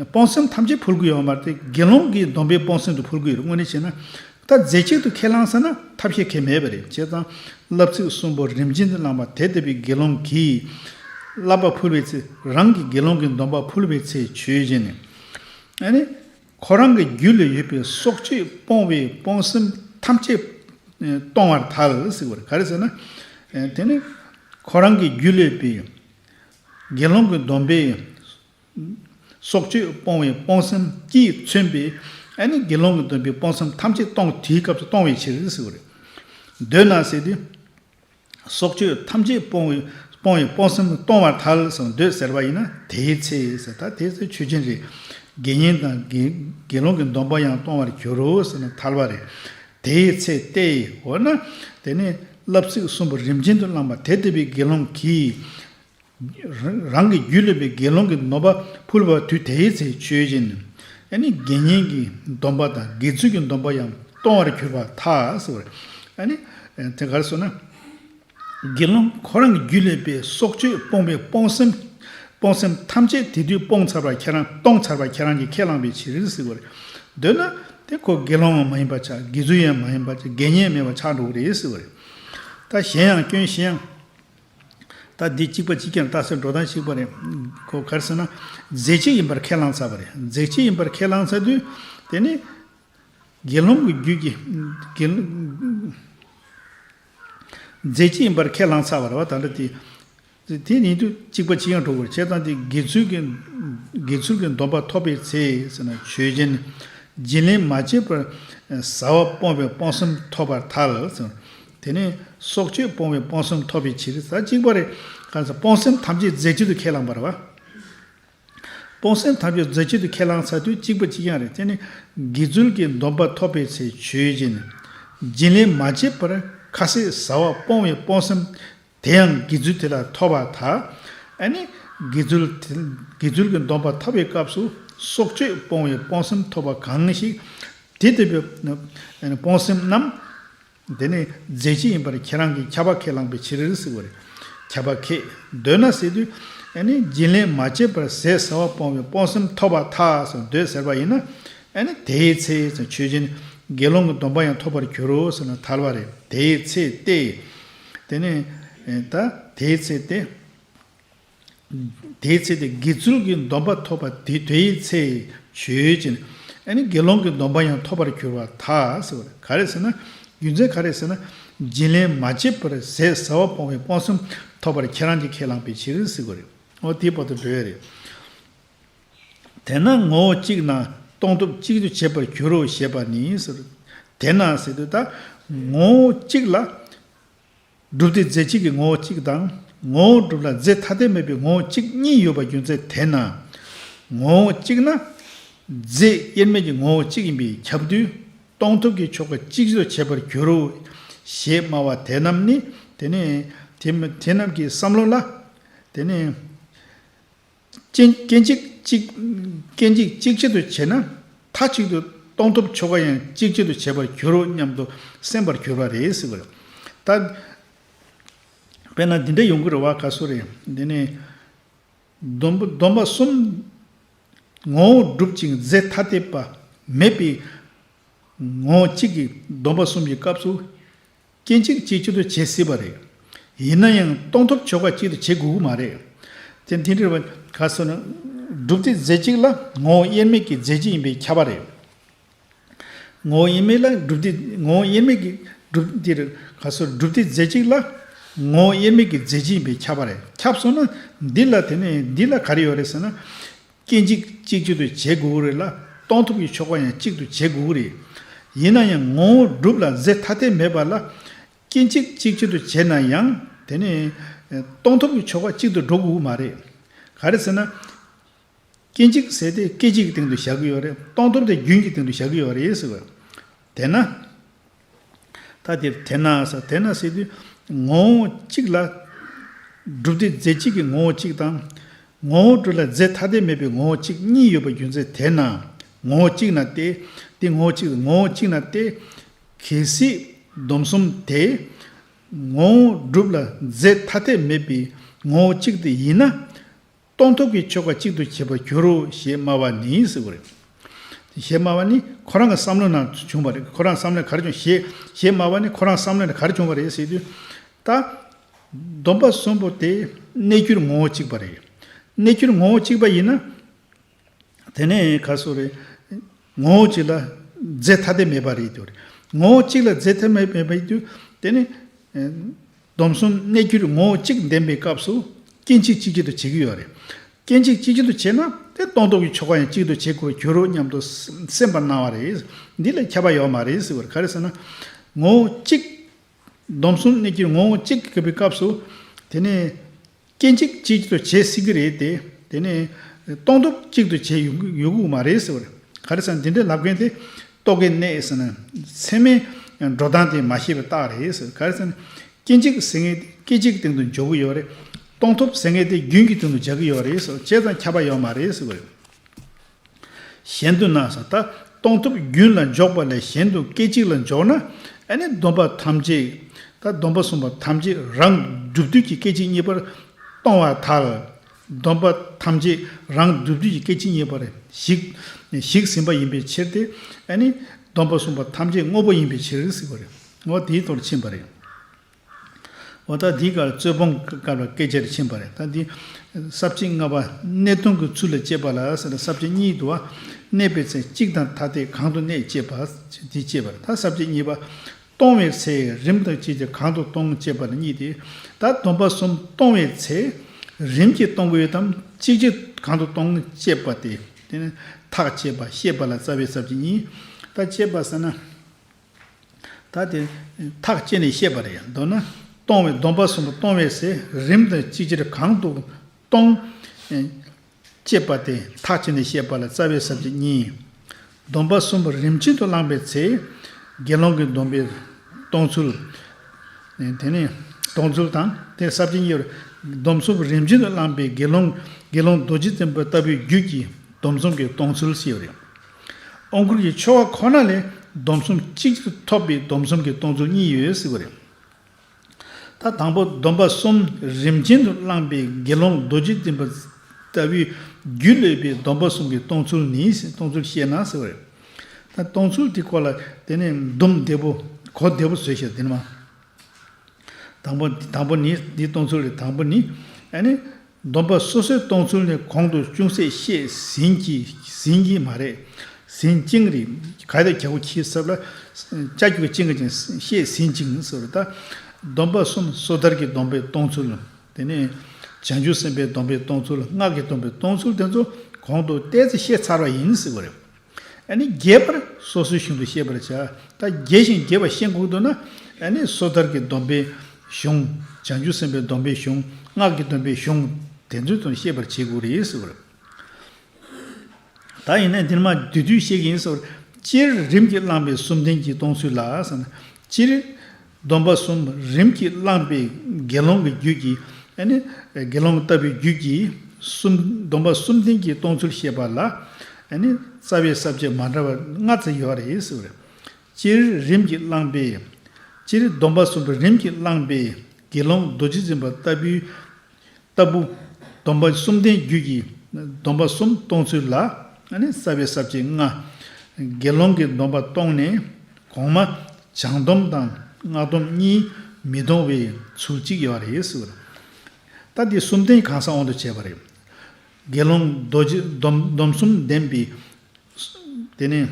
སྤོང་སེམས་ཐམས་ཅད་འཕུལ་དགོས་ཡོད་པ་མ་རེད་དེ་དགེ་སློང་གི་སྡོམ་པའི་སྤོང་སེམས་དུ་འཕུལ་དགོས་ཡོད་རེད་དངོས་གནས་བྱས་ན། ད་རྫས་གཅིག་ཏུ་ཁས་བླངས་ས་ན་ཐབས་ཤེས་མཁན་མེད་པ་རེད་བྱས་ཙང། བསླབ་ཚིག་གསུམ་པོ་རིམ་བྱིན་གྱིས་བླངས་པ་དེ་ལྟ་བུའི་དགེ་སློང་གིས། བསླབ་པ་འཕུལ་བའི་ཚེ་རང་གིས་དགེ་སློང་གི་སྡོམ་པ་འཕུལ་བའི་ཚེ་ཆོས་བཞིན། ཁོ་རང་གི་རྒྱུད་ལ་ཡོད་པའི་སྲོག་གཅོད་སྤོང་བའི་སྤོང་སེམས་ཐམས་ཅད་སྟོང་བར་ཐལ། ག་རེ་ཟེར་ན། དེ་ནི་ཁོ་རང་གི་རྒྱུད་ལ་ཡོད་པའི་དགེ་སློང་གི་སྡོམ་པའི་སྲོག་གཅོད་སྤོང་བའི་སྤོང་སེམས་ཀྱིས་མཚོན་པའི་ཨ་ནི་དགེ་སློང་གི་སྡོམ་པའི་སྤོང་སེམས་ཐམས་ཅད་སྟོང་དེའི་སྐབས་སུ་སྟོང་བའི་ཕྱིར། འདོད་ན་ཟེར་ཏེ། སྲོག་གཅོད་ཐམས་ཅད་སྤོང་བའི་སྤོང་བའི་སྤོང་སེམས་སྟོང་བར་ཐལ་ཞིང་འདོད་ཟེར་བ་ཡིན་ན་དེའི་ཚེ་ཟེར་ད་དེ་ཚོའི་ཆོས་ཅན་རེད། དགེ་བསྙེན་དང་དགེ་སློང་གི་སྡོམ་པ་ཡང་སྟོང་བར་འགྱུར་རོ་ཟེར་ན་ཐལ་བ་རེད། དེའི་ཚེ་སྟེ། འོ་ན། དེ་ནས་བསླབ་ཚིག་གསུམ་པོ་རིམ་ཅན་དུ་བླངས་པ་དེ་ལྟ་བུའི་དགེ་སློང་གིས། རང་གི་རྒྱུད་ལས་པའི་དགེ་སློང་གི་ནོར་བ་ཕུལ་བ་དུས་དེའི་ཚེ་མཆོད་སྦྱིན་ནི་དགེ་བསྙེན་གྱི་སྡོམ་པ་དང་དགེ་ཚུལ་གྱི་སྡོམ་པ་ཡང་གཏོང་བར་གྱུར་པ་ཐག་དེ་གར་སོང་ན། དགེ་སློང་ཁོ་རང་གི་རྒྱུད་ལས་པའི་སྲོག་གཅོད་སྤོང་པའི་སྤོང་སེམས་ཐམས་ཅད་དེ་དུས་སྤོང་ཚར་བར་ཁྱེད་རང་གཏོང་ཚར་བར་ཁྱེད་རང་གིས་ཁས་བླངས་པའི་ཕྱིར་འདོད་ན། དེ་ཁོ་དགེ་སློང་མ་ཡིན་པར་ཆགས་དགེ་ཚུལ་ཡང་མ་ཡིན་པར་ཆགས་དགེ་བསྙེན་མེད་པར་ཆགས་འགྲོ་བ་རེད། ད་གཞན་ཡང་སྐྱོན་གཞན་ཡང། ད་འདི་གཅིག་པ་གཅིག་ཀྱང་ལྟ་སའི་འགྲོ་སྟངས་ཤིག་པ་རེད། གོ་གར་སོང་ན། རྫས་གཅིག་ཡིན་པར་ཁས་བླངས་ཚར་བ་རེད། རྫས་གཅིག་ཡིན་པར་ཁས་བླངས་ཚར་དུས། དེ་ནི། དགེ་སློང་གི་རྒྱུད་ཀྱི། དགེ། རྫས་གཅིག་ཡིན་པར་ཁས་བླངས་ཚར་བ་རེད་བ་ད་འདྲ་དེ། དེ་ཉིད་དུ་གཅིག་པ་གཅིག་ཡང་གྲོགས་པོར་བྱེད་སྟངས་དེ་དགེ་ཚུལ་གྱི། དགེ་ཚུལ་གྱི་སྡོམ་པ་ཐོབ་པའི་ཚེ་ཟེར་ན་ཆོས་ཅན། སྦྱིན་ལེན་མ་བྱས་པར། བཟའ་བ་སྤོང་བའི་སྤོང་སེམས་ཐོབ་པར་ཐལ། དེ་ནས་སྲོག་གཅོད་སྤོང་བའི་སྤོང་སེམས་ཐོབ་པའི་ཕྱིར་ས་གཅིག་པ་རེ་ཁཱ་ས་སྤོང་སེམས་ཐམས་ཅད་རྫས་གཅིག་ཏུ་ཁས་བླངས་པར་བ། སྤོང་སེམས་ཐམས་ཅད་རྫས་གཅིག་ཏུ་ཁས་བླངས་ས་དུས་གཅིག་པ་གཅིག་ཡང་རེ་དེ་ནས་དགེ་ཚུལ་གྱི་སྡོམ་པ་ཐོབ་པའི་ཚེ་ཆོས་སྦྱིན། སྦྱིན་ལས་མ་བྱས་པར་ཁཱ་སས་ཟ་བ་སྤོང་བའི་སྤོང་སེམས་དེ་ཡང་དགེ་ཚུལ་དེ་ལ་ཐོབ་པ་དག་ཨ་ནི། དགེ་ཚུལ་དགེ་ཚུལ་གྱི་སྡོམ་པ་ཐོབ་པའི་སྐབས་སུ་སྲོག་གཅོད་སྤོང་བའི་སྤོང་སེམས་ཐོབ་པ་གང་ཞིག། དེ་ལྟ་བུའི་སྤོང་སེམས་རྣམས། འདི་ནི་རྫས་གཅིག་ཡིན་པར་ཁྱེད་རང་གིས་ཁྱབ་པ་ཁས་བླངས་པའི་ཕྱིར་རིགས་གཟིགས་པ་རེད། ཁྱབ་པ་ཁས་འདོད་ན་གཟིགས་དུས། ནི་སྦྱིན་ལེན་མ་བྱས་པར་ཟས་ཟ་བ་སྤོང་བའི་སྤོང་སེམས་ཐོབ་པ་ཐག་ཟིན་འདོད་ཟེར་བ་ཡིན་ན། ནི་དེའི་ཚེ་མཆོད་སྦྱིན་དགེ་སློང་གི་སྡོམ་པ་ཡང་ཐོབ་པར་འགྱུར་རོ་ཟེར་ན་ཐལ་བ་རེད་དེའི་ཚེ་སྟེ། དེ་ནི། ད་དེའི་ཚེ་སྟེ། དེའི་ཚེ་དེ་དགེ་ཚུལ་གྱི་སྡོམ་པ་ཐོབ་པ་དེ་དེའི་ཚེ་ཆོས་ཅན། ཨ་ནི་དགེ་སློང་གི་སྡོམ་པ་ཡང་ཐོབ་པར་གྱུར་པ་དག་ཟེར་བ་ནི་ག་རེ་ཟེར་ན། རྒྱུ་མཚན་ག་རེ་ཟེར་ན། སྦྱིན་ལེན་མ་བྱས་པར་ཟས་ཟ་བ་སྤོང་བའི་སྤོང་སེམས་ཐོབ་པར་ཁྱེད་རང་གིས་ཁས་བླངས་པའི་ཕྱིར་ཟེར་དགོས་རེད། ཨོ་དེའི་བར་དུ་འགྲོ་ཡ་རེད། དེས་ན་ངོ་བོ་གཅིག་ན་སྟོང་ཐོབ་གཅིག་ཏུ་བྱེད་པར་འགྱུར་རོ་ཞེས་པ་ནི་ཟེར། དེས་ན་ཟེར་དུས་ད་ངོ་བོ་གཅིག་ལ། སྒྲུབ་སྡེ་རྫས་གཅིག་གི་ངོ་བོ་གཅིག་དང། ངོ་བོ་སྒྲུབ་ལ་རྫས་ཐ་དད་མེད་པའི་ངོ་བོ་གཅིག་གཉིས་ཡོད་པ་རྒྱུ་མཚན་དེས་ན། ངོ་བོ་གཅིག་ན། རྫས་དབྱེར་མེད་ཀྱི་ངོ་བོ་གཅིག་ཡིན་པས་ཁྱབ་དུས། སྟོང་ཐུབ་ཀྱི་ཆོ་ག་གཅིག་བཟོ་བྱེད་པར་འགྱུར་རོ། ཞེས་སྨྲ་བ་དེ་རྣམས་ནི། དེ་ནི། དེ་རྣམས་ཀྱི་བསམ་བློ་ལ། དེ་ནི། སྐྱེ་འཇིག་གཅིག་ཆེད་དུ་བྱེད་ན་མཐའ་གཅིག་ཏུ་གཏོང་ཐུབ་ཆོ་ག་ཡང་གཅིག་ཆེད་དུ་བྱེད་པར་གྱུར་རོ་སྙམ་དུ་སེམས་པར་གྱུར་པ་རེད་ཟེར་བ་རེད། ད་དཔེར་ན་འདི་འདྲ་ཡོང་གི་རེད་བ་ག་སུ་རེད། དེ་ནི། སྡོམ་པ་གསུམ། ངོ་བོ་གྲུབ་ཅིང་རྫས་ཐ་དད་པ་མེད་པའི། ངོ་བོ་གཅིག་གི་སྡོམ་པ་གསུམ་གྱི་སྐབས་སུ། སྐྱེ་འཇིག་གཅིག་གཅིག་ཏུ་བྱེད་སྲིད་པ་རེད། ཡིན་ན་ཡང་སྟོང་ཐོབ་ཆོ་ག་གཅིག་ཏུ་བྱེད་དགོས་ཀྱི་མ་རེད། དེ་འདི་འདྲ་བ་ག་སོ་ན། སྒྲུབ་སྡེ་རྫས་གཅིག་ལ་ངོ་བོ་དབྱེར་མེད་ཀྱི་རྫས་གཅིག་ཡིན་པའི་ཁྱབ་པ་རེད། ངོ་བོ་དབྱེར་མེད་ལ་སྒྲུབ་སྡེ་ངོ་བོ་དབྱེར་མེད་ཀྱི་སྒྲུབ་འདིར་ག་སོ་སྒྲུབ་སྡེ་རྫས་གཅིག་ལ་ངོ་བོ་དབྱེར་མེད་ཀྱི་རྫས་གཅིག་ཡིན་པའི་ཁྱབ་པ་རེད་ཁྱབ་སོང་ན་འདི་ལ་དེ་ནས་འདི་ལ་ག་རེ་ཡོད་རེད་ཟེར་ན། སྐྱེ་འཇིག་གཅིག་གཅིག་ཏུ་བྱེད་དགོས་ཀྱི་རེད་ལ་གཏོང་ཐུབ་ཀྱི་ཆོ་ག་ཡང་གཅིག་ཏུ་བྱེད་དགོས་ཀྱི་རེད། ཡིན་ན་ཡང་ངོ་བོ་སྒྲུབ་ལ་རྫས་ཐ་དད་མེད་པ་ལ། སྐྱེ་འཇིག་གཅིག་གཅིག་ཏུ་བྱས་ན་ཡང་དེ་ནི། གཏོང་ཐུབ་ཀྱི་ཆོ་ག་གཅིག་ཏུ་འགྲོ་དགོས་ཀྱི་མ་རེད། ག་རེ་ཟེར་ན། སྐྱེ་འཇིག་ཟེར་དེ་སྐད་ཅིག་གི་སྟེང་དུ་བཞག་གི་ཡོད་རེད། གཏོང་ཐུབ་དེ་རྒྱུན་གྱི་སྟེང་དུ་བཞག་གི་ཡོད་རེད་ཟེར་བ། དེས་ན། ཐ་དེར་དེ་ན་ས་དེ་ན་སེ་དུས་ངོ་བོ་གཅིག་ལ། སྒྲུབ་སྡེ་རྫས་གཅིག་གི་ངོ་བོ་གཅིག་དང། ངོ་བོ་དྲུག་ལ་རྫས་ཐ་དད་མེད་པའི་ངོ་བོ་གཅིག་གཉིས་ཡོད་པ་རྒྱུ་མཚན་དེ་ན་ངོ་བོ་གཅིག་ན་སྟེ། དེ་ངོ་བོ་གཅིག་ལ་ངོ་བོ་གཅིག་ན་སྟེ། གལ་སྲིད། སྡོམ་གསུམ་དེ། ངོ་བོ་སྒྲུབ་ལ་རྫས་ཐ་དད་མེད་པའི་ངོ་བོ་གཅིག་དེ་ཡིན་ན། སྟོང་ཐུག་གི་ཆོ་ག་གཅིག་ཏུ་བྱེད་པར་འགྱུར་རོ་ཞེས་སྨྲ་བ་ནི་ཟེར་བ་རེད། ཞེས་སྨྲ་བ་ནི་ཁོ་རང་གི་བསམ་བློའི་ནང་བྱུང་བ་རེད་ཁོ་རང་བསམ་བློའི་གར་བྱུང་ཞེས་ཞེས་སྨྲ་བ་ནི་ཁོ་རང་བསམ་བློའི་གར་བྱུང་བ་རེད་ཟེར་དུས། ད། སྡོམ་པ་གསུམ་པོ་དེ་གནས་གྱུར་ངོ་བོ་གཅིག་པ་རེད། གནས་གྱུར་ངོ་བོ་གཅིག་པ་ཡིན་ན། དེ་ནས་ག་སོ་རེད། ངོ་བོ་གཅིག་ལ་རྫས་ཐ་དད་མེད་པ་རེད་དོ། ངོ་བོ་གཅིག་ལ་རྫས་ཐ་དད་མེད་པའི་དུས་དེ་ནི། སྡོམ་གསུམ་གནས་གྱུར་ངོ་བོ་གཅིག་བདེན་པའི་སྐབས་སུ། སྐྱེ་འཇིག་གཅིག་གྱུར་དུ་བྱེད་ཀྱི་ཡོད་རེད། སྐྱེ་འཇིག་གཅིག་གྱུར་དུ་བྱེད་ན་དེ་སྟོང་སྟོབས་ཀྱི་ཆོ་ག་ཡང་གཅིག་ཏུ་བྱེད་དགོས་པར་འགྱུར་རོ་སྙམ་དུ་སེམས་པར་སྣང་བ་རེད། འདི་ལས་ཁྱབ་པ་ཡོད་མ་རེད་ཟེར་བར་ག་རེ་ཟེར་ན། ངོ་བོ་གཅིག། སྡོམ་གསུམ་གནས་གྱུར་ངོ་བོ་གཅིག་གི་བའི་སྐབས་སུ། དེ་ནི། སྐྱེ་འཇིག་གཅིག་ཏུ་བྱེད་སྲིད་ཀྱི་རེད་དེ། དེ་ནས། སྟོང་སྟོབས་གཅིག་ཏུ་བྱེད་ཡོད་ཁུག་མ་རེད་ཟེར་བར། ག་རེ་ཟེར་འདི་འདྲའི་ལབ་མཁན་དེ། རྟོག་གེ་གནས་ཟེར་ན། ཚད་མའི་འགྲོ་སྟངས་དེ་མ་ཤེས་པའི་རྟགས་རེད་ཟེར། ག་རེ་ཟེར་ན། སྐྱེ་འཇིག་ཟེར་མཁན་དེ་སྐད་ཅིག་གི་སྟེང་དུ་འཇོག་གི་ཡོད་རེད། སྟོང་ཐོབ་ཟེར་མཁན་དེ་རྒྱུན་གྱི་སྟེང་དུ་འཇགས་ཀྱི་ཡོད་རེད་ཟེར་བ་བཅས་དང་ཁྱབ་པ་ཡོད་མ་རེད་ཟེར་བ་རེད། གཞན་དུ་ན་ས་ད་སྟོང་ཐུབ་རྒྱུན་ལ་འཇོག་པ་ལས་གཞན་དུ་སྐད་ཅིག་ལ་འཇོག་ན་ཨ་ནི་སྡོམ་པ་ཐམས་ཅད་ད་སྡོམ་པ་གསུམ་པ་ཐམས་ཅད་རང་སྒྲུབ་དུས་ཀྱི་སྐད་ཅིག་གཉིས་པར་སྟོང་བ་དག་ལ་སྡོམ་པ་ཐམས་ཅད་རང་སྒྲུབ་དུས་ཀྱི་སྐད་ཅིག་གཉིས་པར་གཞིགས་ཟིན་པ་ཡིན་པའི་ཕྱིར་ཏེ་ཨ་ནི་སྡོམ་པ་གསུམ་པ་ཐམས་ཅད་དངོས་པོ་ཡིན་པའི་ཕྱིར་ཟེར་བ་རེད། ངོ་བོ་དེའི་དོར་ཕྱིན་པ་རེད། བ། ད་འདི་གར་རྩོད་སྤོང་གི་སྐབས་ལ་སྐད་ཆ་རེ་ཕྱིན་པ་རེད། ད་འདི། གསར་བརྗེ་ལྔ་པ་གནད་དོན་གྱི་ཚུལ་ལ་དཔྱད་པ་ལ་ཟེར། གསར་བརྗེ་གཉིས་དུ་བ། གནས་པའི་ཚེ་གཅིག་དང་ཐ་དད་གང་དུ་གནས་དཔྱད་པ། འདི་དཔྱད་པ་རེད། ད་གསར་བརྗེ་གཉིས་པ། སྟོང་བའི་ཚེ་རིམ་དང་བཅས་ཀྱི་གང་དུ་སྟོང་དཔྱད་པ་རེད་གཉིས་ཏེ། ད་སྡོམ་པ་གསུམ་སྟོང་བའི་ཚེ། རིམ་གྱིས་སྟོང་གི་ཡོད་དམ་གཅིག་གཅིག་གང་དུ་སྟོང་དཔྱད་པ་སྟེ། ཐག་བཅད་པ་ཤེས་པ་ལ་རྩ་བའི་གསར་བརྗེ་གཉིས། ད་དཔྱད་པ་ཟེར་ན། ད་དེ། ཐག་བཅད་ནས་བཤད་པ་རེད་མདོར་ན། སྟོང་བའི་སྡོམ་པ་གསུམ་པོ་སྟོང་བའི་ཟས་རིམ་དང་གཅིག་ཅར་གང་དུ་སྟོང། ཅེས་པ་དེ་ཐག་བཅད་ནས་བཤད་པ་ལ་རྩ་བའི་ཟབ་ཁྱད་གཉིས། སྡོམ་པ་གསུམ་པོ་རིམ་གཅིག་ཏུ་བླངས་པའི་ཚེ། དགེ་སློང་གི་སྡོམ་པའི་སྟོང་ཚུལ། དེ་ནས་སྟོང་ཚུལ་དང་དེ་ཟབ་ཁྱད་གཉིས། སྡོམ་གསུམ་པོ་རིམ་གཅིག་ཏུ་བླངས་པའི་དགེ་སློང། དགེ་སློང་རྡོ་རྗེ་བཙན་པོ་ལྟ་བུའི་རྒྱུད་ཀྱི་སྡོམ་གསུམ་གྱི་སྟོང་ཚུལ་ཞེས་པ་རེད། ཨོ་མཁུར་གྱི་ཆོ་ག་ཁོ་ན་ལས་སྡོམ་གསུམ་གཅིག་ཅར་ཐོབ་པའི་སྡོམ་གསུམ་གྱི་སྟོང་ཚུལ་གཉིས་ཡོད་ཟེར་བ་རེད། ད་དང་པོ་སྡོམ་པ་གསུམ་རིམ་ཅན་དུ་བླངས་པའི་དགེ་སློང་རྡོ་རྗེ་བཙུན་པ་ལྟ་བུའི་རྒྱུད་ལས་པའི་སྡོམ་པ་གསུམ་གྱི་སྟོང་ཚུལ་ནི་སྟོང་ཚུལ་བཤད་ན་ཟེར་བ་རེད། ད་སྟོང་ཚུལ་དེ་སྐོར་ལ་དེ་ནས་འདུམ་བདེ་པོ་གོ་བདེ་པོ་བཟོས་ཤིག་དེ་ནས་མ། དང་པོ། དང་པོ་ནི། འདིའི་སྟོང་ཚུལ་ལས་དང་པོ་ནི། སྡོམ་པ་སོ་སོའི་སྟོང་ཚུལ་ནི་གོང་དུ་ཅུང་ཟད་བཤད་ཟིན་གྱི་མ་རེད། ཟིན་བཅིངས་རེད། ག་དེ་ག་གོ་ཁྱི་གསབ་ལ། ལྕགས་ཀྱུ་བཅིངས་ཀྱི་ཅིང་བཤད་ཟིན་བཅིངས་ཟེར་བ་དང། སྡོམ་པ་གསུམ་སོ་ཐར་གྱི་སྡོམ་པའི་སྟོང་ཚུལ། དེ་ནས་བྱང་ཆུབ་སེམས་དཔའི་སྡོམ་པའི་སྟོང་ཚུལ་སྔགས་ཀྱི་སྡོམ་པའི་སྟོང་ཚུལ་དེ་ཚོ་གོང་དུ་བལྟས་ཚེ་ཤེས་ཚར་བ་ཡིན་ཟེར་བ་རེད། ནི་རྒྱས་པར་སོ་སོའི་གཞུང་དུ་ཤེས་པར་བྱ། ད་རྒྱས་ཤིང་རྒྱས་པ་ཤེས་འགོག་ཏུ་ན། ནི་སོ་ཐར་གྱི་སྡོམ་པའི་གཞུང། བྱང་ཆུབ་སེམས་དཔའི་སྡོམ་པའི་གཞུང། སྔགས་ཀྱི་སྡོམ་པའི་གཞུང། དེ་ཚུལ་དུ་ཤེས་པར་བྱེད་དགོས་རེད་ཟེར། ད་ཡིན་ན་འདིར་མ་བསྡུས་དུས་ཤེས་ཀྱི་ཡིན་ཟེར། སྤྱིར་རིམ་གྱིས་བླངས་པའི་སུམ་ལྡན་གྱིས་གཏོང་ཚུལ་ལ། སྤྱིར། སྡོམ་པ་གསུམ་རིམ་གྱིས་བླངས་པས་དགེ་སློང་གི་རྒྱུད་ཀྱི། དགེ་སློང་ལྟ་བུའི་རྒྱུད་ཀྱི། སྡོམ་པ་གསུམ་ལྡན་གྱིས་གཏོང་ཚུལ་བཤད་པ་ལ། རྩ་བའི་ས་བཅད་མ་འདྲ་བ་ལྔ་ཙམ་ཡོད་རེད། སྤྱིར་རིམ་གྱིས་བླངས་པས། སྤྱིར་སྡོམ་པ་གསུམ་རིམ་གྱིས་བླངས་པས་དགེ་སློང་རྡོ་རྗེ་འཛིན་པ་ལྟ་བུའི། ལྟ་བུ། སྡོམ་པ་གསུམ་ལྡན་རྒྱུད་ཀྱི་སྡོམ་པ་གསུམ་གཏོང་ཚུལ་ལ། ས་བའི་ས་བཅད་ལྔ། དགེ་སློང་གི་སྡོམ་པ་གཏོང་ནས་གོང་མ། བྱང་སྡོམ་དང་སྔགས་སྡོམ་གཉིས་མི་གཏོང་བའི་ཚུལ་གཅིག་ཡོད་རེད། ལྟ་དེ་གསུམ་ལྡན་གང་ས་དབང་དུ་བྱས་པ་རེད། དགེ་སློང་རྡོ་རྗེ་སྡོམ་གསུམ་ལྡན་པའི། དེ་ནས།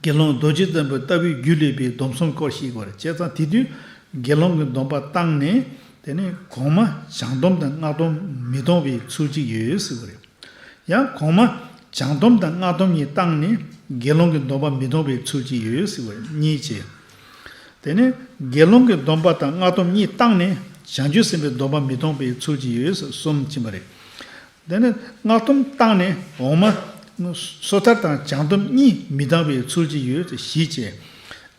དགེ་སློང་རྡོ་རྗེ་བཙན་པོ་ལྟ་བུའི་རྒྱུད་ལས་པའི་སྡོམ་གསུམ་སྐོར་ཞིག་བར་བཅད་ཙང་དེ་དུས་དགེ་སློང་གི་སྡོམ་པ་བཏང་ནས་དེ་ནས་གོང་མ་བྱང་སྡོམ་དང་སྔགས་སྡོམ་མི་གཏོང་བའི་ཚུལ་གཅིག་ཡོད་ཟེར་བ་རེད། ཡང་གོང་མ་བྱང་སྡོམ་དང་སྔགས་སྡོམ་གཉིས་བཏང་ནས་དགེ་སློང་གི་སྡོམ་པ་མི་གཏོང་བའི་ཚུལ་གཅིག་ཡོད་ཟེར་བ་གཉིས་བྱས། དེ་ནས་དགེ་སློང་གི་སྡོམ་པ་དང་སྔགས་སྡོམ་གཉིས་བཏང་ནས་བྱང་ཆུབ་སེམས་དཔའི་སྡོམ་པ་མི་གཏོང་བའི་ཚུལ་གཅིག་ཡོད་ཟེར་གསུམ་བྱིན་པ་རེད། འདི་ནི་སྔགས་ཐུམ་བཏགས་ནས་འོག་མ། སོ་ཐར་དང་བྱང་ཐུམ་གཉིས་མི་བཏགས་པའི་ཚུལ་གྱིས་ཡོད་དེ་བཞི་བཅས།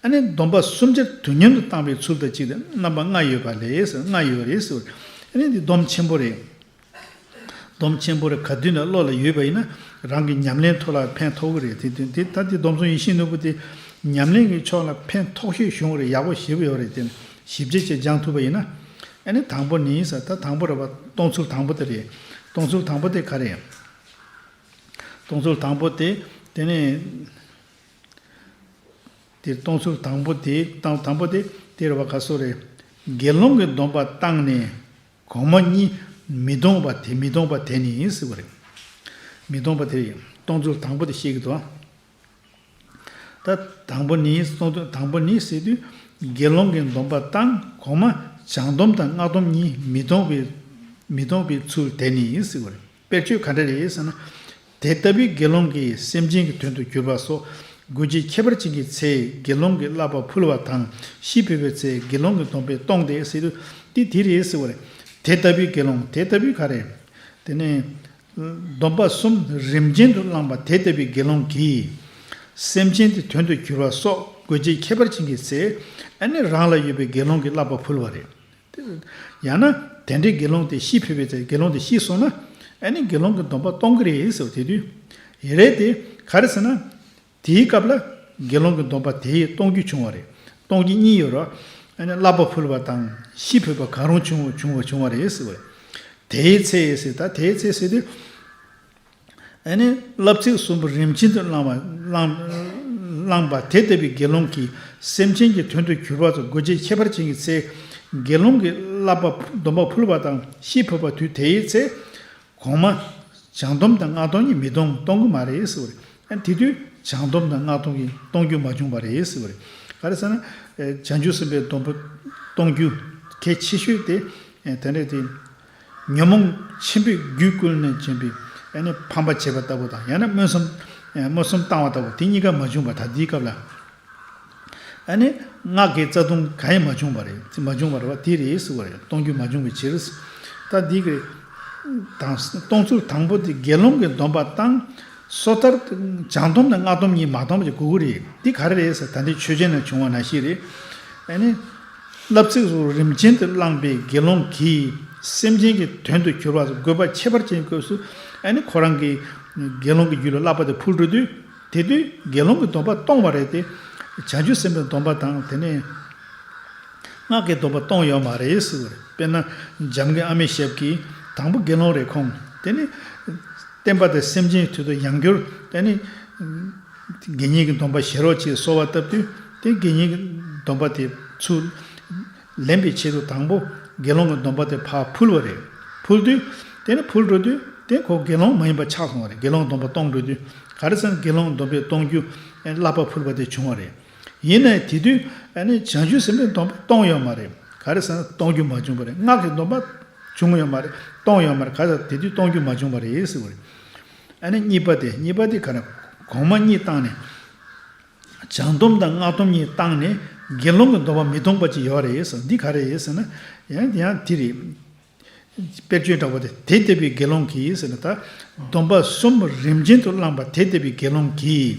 ཨ་ནི་སྡོམ་པ་སུམ་ཅུ་དུས་མཉམ་དུ་བཏང་པའི་ཚུལ་དང་གཅིག་དང་རྣམ་པ་ལྔ་ཡོད་པ་ལས་ལྔ་ཡོད་རེད་ཟེར་བ། ཨ་ནི་འདི་སྡོམ་ཆེན་པོ་རེད། སྡོམ་ཆེན་པོ་རེད་ག་དུས་ན་བློ་ལ་ཡོད་པ་ཡིན་ན་རང་གི་ཉམས་ལེན་ཐོག་ལ་ཕན་ཐོགས་གི་རེད་དེ་དོན་དེ་ལྟར་དེ་སྡོམ་བཟུང་ཡིན་ཤིན་ནོ་བུ་དེ་ཉམས་ལེན་གྱི་ཕྱོགས་ལ་ཕན་ཐོགས་ཤོས་བྱུང་བ་རེད་ཡག་པོ་བྱེད་པོ་ཡོད་རེད་དེ། ཞིབ་རྒྱས་བཅས་སྦྱང་ཐུབ་པ་ཡིན་ན། ཨ་ནི་དང་པོ་ནི་ས་ད་དང་པོ་རེད་བ། སྟོང་ཚུལ་དང་པོ་དེ་རེད། སྟོང་ཚུལ་དང་པོ་དེ་ག་རེད། སྟོང་ཚུལ་དང་པོ་དེ། དེ་ནི། དེ་སྟོང་ཚུལ་དང་པོ་དེ། དང་དང་པོ་དེ། དེ་རེད་བ་ག་སོགས་རེད། དགེ་སློང་གི་སྡོམ་པ་བཏང་ནས། གོང་མ་གཉིས། མི་སྟོང་པ་དེ་མི་སྟོང་པ་དེ་ནི་ཟེར་བ་རེད། མི་སྟོང་པ་དེ་རེད། སྟོང་ཚུལ་དང་པོ་དེ་བཤད་ཀི་འདུག་ཨ། ད། དང་པོ་ནི་གསུངས་དོན་དང་པོ་ནི་སྲིད་དུས་དགེ་སློང་གི་སྡོམ་པ་དང་གོང་མ་བྱང་སྡོམ་དང་སྔགས་སྡོམ་གཉིས་མི་གཏོང་བའི་མི་གཏོང་བའི་ཚུལ་དེ་ནི་སྲིད་པར་དཔེར་བརྗོད་ག་འདྲ་རེད་ཟེར་ན། དེ་ལྟ་བུའི་དགེ་སློང་གིས་སེམས་ཅན་གྱི་དོན་དུ་གྱུར་པ་སོགས་དགོས་ཀྱི་ཁྱད་པར་ཅན་གྱི་ཚེ་དགེ་སློང་གི་བསླབ་པ་ཕུལ་བ་དང་ཤི་འཕོས་པའི་ཚེ་དགེ་སློང་གི་སྡོམ་པས་གཏོང་སྟེ་སྲིད་དུ་སྟེ་དེ་རེད་ཟེར་བ་རེད། དེ་ལྟ་བུའི་དགེ་སློང་དེ་ལྟ་བུའི་ག་རེད། དེ་ནས། སྡོམ་པ་གསུམ་རིམ་ཅན་དུ་བླངས་པ་དེ་ལྟ་བུའི་དགེ་སློང་གིས། སེམས་ཅན་དེ་དོན་དུ་གྱུར་པ་སོགས་དགོས་ཆེད་ཁྱད་པར་བྱིན་གྱིས་བརྩེ་ཨ་ནི་རང་ལ་ཡོད་པའི་དགེ་སློང་གི་བསླབ་པ་ཕུལ་བ་རེད། ཡང་ན་དེ་འདྲའི་དགེ་སློང་དེ་ཤི་འཕོས་པའི་ཚེ་དགེ་སློང་དེ་ཤི་སོང་ན་ཨ་ནི་དགེ་སློང་གི་སྡོམ་པ་གཏོང་གི་རེད་ཟེར་བ་དེ་དུས། ཡེ་རེད་དེ་ག་རེ་ཟེར་ན། དེའི་སྐབས་ལ། དགེ་སློང་གི་སྡོམ་པ་དེས་སྟོང་རྒྱུད་བྱུང་བ་རེད། སྟོང་རྒྱུད་གཉིས་ཡོད་རོ། བསླབ་པ་ཕུལ་བ་དང་ཤི་འཕོས་པ་གང་རུང་བྱུང་བྱུང་བ་བྱུང་བ་རེད། དེའི་ཚེ་ཟེར་ད་དེའི་ཚེ་ཟེར་ཏེ། བསླབ་ཚིག་གསུམ་པོ་རིམ་བྱིན་དུ་བླངས་པ། དེ་ལྟ་བུའི་དགེ་སློང་གིས་སེམས་ཅན་གྱི་དོན་དུ་གྱུར་པ་སོགས་དགོས་ཆེད་ཁྱད་པར་ཅན་གྱི་ཚེ། དགེ་སློང་གི་བསླབ་པ་སྡོམ་པ་ཕུལ་བ་དང་ཤི་འཕོས་པ་དུས་དེའི་ཚེ། གོང་མ། བྱང་སྡོམ་དང་སྔགས་སྟོང་གཉིས་མི་གཏོང་གཏོང་གི་མ་རེད་ཟེར་བ་རེད། ཡང་དེ་དུས་བྱང་སྡོམ་དང་སྔགས་སྟོང་གཉིས་གཏོང་རྒྱུ་མ་བྱུང་བ་རེད་ཟེར་བ་རེད། ག་རེ་ཟེར་ན། བྱང་ཆུབ་སེམས་དཔའི་སྡོམ་པོ་གཏོང་རྒྱུ་གལ་ཆེ་ཤོས་དེ། དེ་འདྲ་དེ། ཉོན་མོངས་ཆེན་པོས་རྒྱུད་བསྐུལ་ནས་བྱིན་པའི། ཕམ་པ་བྱེད་པ་ལྟ་བུ་དང་ཡང་ན་སྨོན་སམ། སྨོན་སམ་བཏང་བ་ལྟ་བུ་དེ་གཉིས་ཀ་མ་བྱུང་བ་ད་ལྟའི་སྐབས་ལ། ཨ་ནི། སྔགས་ཀྱི་རྩ་ལྟུང་ག་ཡིན་མ་བྱུང་བ་རེད་དེ་མ་བྱུང་བར་བ་དེ་རེད་ཟེར་བ་རེད་གཏོང་རྒྱུ་མ་བྱུང་བའི་ཕྱིར། ད་འདི་གི། དང། གཏོང་ཚུལ་དང་པོ་དེ་དགེ་སློང་གི་སྡོམ་པ་བཏང། སོ་ཐར། བྱང་སྡོམ་དང་སྔགས་སྡོམ་གཉིས་མ་བཏང་བ་བཅས་དགུ་དགུ་རེད་དེ་ག་རེ་རེད་ཟེར་ད་འདི་ཆོས་ཅན་ནས་བྱུང་བ་ན་ཞིག་རེད། ཨ་ནི། བསླབ་ཚིག་སོགས་རིམ་ཅན་དུ་བླངས་པའི་དགེ་སློང་གིས་སེམས་ཅན་གྱི་དོན་དུ་གྱུར་པ་སོགས་དགོས་པ་ཁྱད་པར་ཅན་གྱི་སྐབས་སུ། ཨ་ནི། ཁོ་རང་གིས། དགེ་སློང་གི་རྒྱུད་ལ་བསླབ་པ་དེ་འཕུར་འགྲོ་དུས། དེ་དུས་དགེ་སློང་གི་སྡོམ་པ་སྟོང་བ་རེད་དེ། བྱང་ཆུབ་སེམས་དཔའི་སྡོམ་པ་དང་དེ་ནས། སྔགས་ཀྱི་སྡོམ་པ་སྟོང་ཡོད་མ་རེད་ཟེར་བ་རེད། དཔེར་ན། འཇམ་དགེ་ཨ་མའི་ཞབས་ཀྱིས། དང་པོ་དགེ་སློང་རེ་ཁོང། དེ་ནས། བསྟན་པ་དང་སེམས་ཅན་དུས་དང་ཡང་འགྱུར། དེ་ནས། དགེ་བསྙེན་གྱི་སྡོམ་པ་བཞེས་རོགས་ཅེས་གསོལ་བ་བཏབ་དུས། དེ་དགེ་བསྙེན་གྱི་སྡོམ་པ་དེ། ཚུལ། ལེན་པའི་ཆེད་དུ་དང་པོ་དགེ་སློང་གི་སྡོམ་པ་དེ་ཕར་ཕུལ་བ་རེད། ཕུལ་དུས། དེ་ནི་ཕུལ་འགྲོ་དུས་དེ་ཁོ་དགེ་སློང་མ་ཡིན་པ་ཆགས་སོང་བ་རེད་དགེ་སློང་སྡོམ་པ་གཏོང་འགྲོ་དུས་ག་རེ་ཟེར་ན་དགེ་སློང་སྡོམ་པས་གཏོང་རྒྱུ་བསླབ་པར་ཕུལ་བ་དེ་བྱུང་བ་རེད། ཡིན་ནའི་དེ་དུས་བྱང་ཆུབ་སེམས་དཔའི་སྡོམ་པ་གཏོང་ཡོད་མ་རེད། ག་རེ་ཟེར་ན་གཏོང་རྒྱུ་མ་བྱུང་བ་རེད་སྔགས་ཀྱི་སྡོམ་པ་བྱུང་ཡོད་མ་རེད་གཏོང་ཡོད་མ་རེད་ག་རེ་ཟེར་ན་དེ་དུས་གཏོང་རྒྱུ་མ་བྱུང་བ་རེད་ཟེར་བ་རེད། གཉིས་པ་དེ་གཉིས་པ་དེ་ག་རེ་གོང་མ་གཉིས་བཏང་ནས། བྱང་སྡོམ་དང་སྔགས་སྡོམ་གཉིས་བཏང་ནས་དགེ་སློང་གི་འདོམས་པ་མི་གཏོང་པ་ཅིག་ཡོད་རེད་ཟེར་འདི་ག་རེད་ཟེར་ན། ཡང་དེ་ཡང་དེ་རེད། དཔེར་བརྗོད་འདྲ་བོ་དེ་དེ་ལྟ་བུའི་དགེ་སློང་གིས་ཟེར་ན་ད། སྡོམ་པ་གསུམ་རིམ་ཅན་དུ་བླངས་པ་དེ་ལྟ་བུའི་དགེ་སློང་གིས།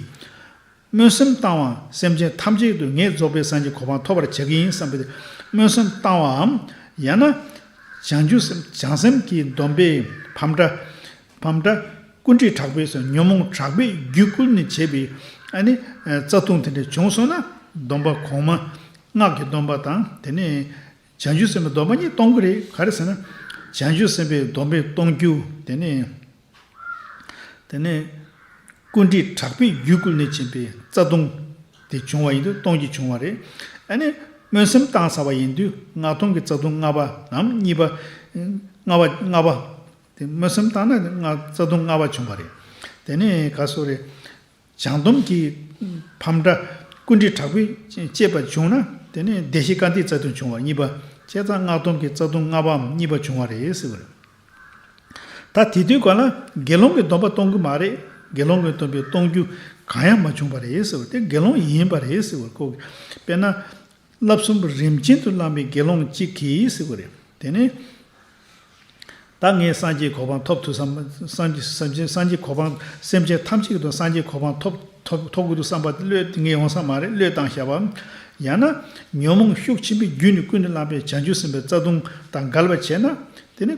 སྨོན་སེམས་བཏང་བའམ་སེམས་ཅན་ཐམས་ཅད་དུ་ངས་རྫོགས་པའི་སངས་ཀྱི་གོ་འཕང་ཐོབ་པར་བྱ་གི་ཡིན་བསམ་པའི་སྨོན་སེམས་བཏང་བའམ། ཡང་ན། བྱང་ཆུབ་སེམས་བྱང་སེམས་ཀྱི་འདོམས་པས་ཕམ་འདྲ། བམ་སྒྲ། ཀུན་དཀྲིས་དྲག་པོས་སོ། ཉོན་མོངས་དྲག་པོས་རྒྱུད་བསྐུལ་ནས་བྱས་པའི། རྩ་ལྟུང་དེ་འདྲ་བྱུང་སོང་ན། སྡོམ་པ་གོང་མ། སྔགས་ཀྱི་སྡོམ་པ་དང་དེ་ནས། བྱང་ཆུབ་སེམས་དཔའི་སྡོམ་པ་གཉིས་གཏོང་གི་རེད་ག་རེ་ཟེར་ན། བྱང་ཆུབ་སེམས་དཔའི་སྡོམ་པས་གཏོང་རྒྱུ། དེ་ནས། དེ་ནས། ཀུན་དཀྲིས་དྲག་པོས་རྒྱུད་བསྐུལ་ནས་བྱས་པའི་རྩ་ལྟུང། དེ་བྱུང་བ་ཡིན་དུས་སྟོང་གྱི་བྱུང་བ་རེད། སྨོན་སེམས་གཏང་ས་བ་ཡིན་དུས་སྔགས་སྟོང་གི་རྩ་ལྟུང་ལྔ་པ་ངམ་གཉིས་པ། ལྔ་པ། དེ་མངོན་སུམ་བརྟགས་ན་ནི་རྩ་ལྟུང་ལྔ་བ་བྱུང་བ་རེད། དེ་ནི་ག་སོགས་རེད། བྱང་སྡོམ་གྱི་ཕམ་འདྲ་ཀུན་དཀྲི་དྲག་པོས་བཅད་པ་བྱུང་ན་དེ་ནི་བདེ་གཤེགས་བཀའ་འདིའི་རྩ་ལྟུང་བྱུང་བ་གཉིས་པ་བཅད་རྩ་སྔགས་སྡོམ་གྱི་རྩ་ལྟུང་ལྔ་བའམ་གཉིས་པ་བྱུང་བ་རེད་ཟེར་བ་རེད། ད་དེ་དུས་ག་ལ་དགེ་སློང་གི་སྡོམ་པ་གཏོང་གི་མ་རེད་དགེ་སློང་གི་སྡོམ་པའི་གཏོང་རྒྱུ་གང་ཡང་མ་བྱུང་བ་རེད་ཟེར་བ་དེ་དགེ་སློང་ཡིན་པ་རེད་ཟེར་བ་ཀོ། དཔེར་ན། བསླབ་གསུམ་པོ་རིམ་ཅན་དུ་བླངས་པའི་དགེ་སློང་གཅིག་གིས་ཟེར་བ་རེད། དེ་ནས། ད་ངས་སངས་རྒྱས་གོ་འཕང་ཐོབ་ཐུབ་བསམ། སངས་རྒྱས་གོ་འཕང་སེམས་ཅན་ཐམས་ཅད་ཀྱི་དོན་སངས་རྒྱས་གོ་འཕང་ཐོབ་དགོས་འདུག་བསམ་པ་དེ་བློས་ངས་ཡོང་ས་མ་རེད་བློས་བཏང་བྱ་བ། ཡང་ན། ཉོན་མོངས་ཤུགས་ཆེན་པོའི་རྒྱུད་ནས་ཀུན་ནས་བསླངས་པའི་བྱང་ཆུབ་སེམས་དཔའི་རྩ་ལྟུང་དང་འགལ་བར་བྱས་ན། དེ་ནི།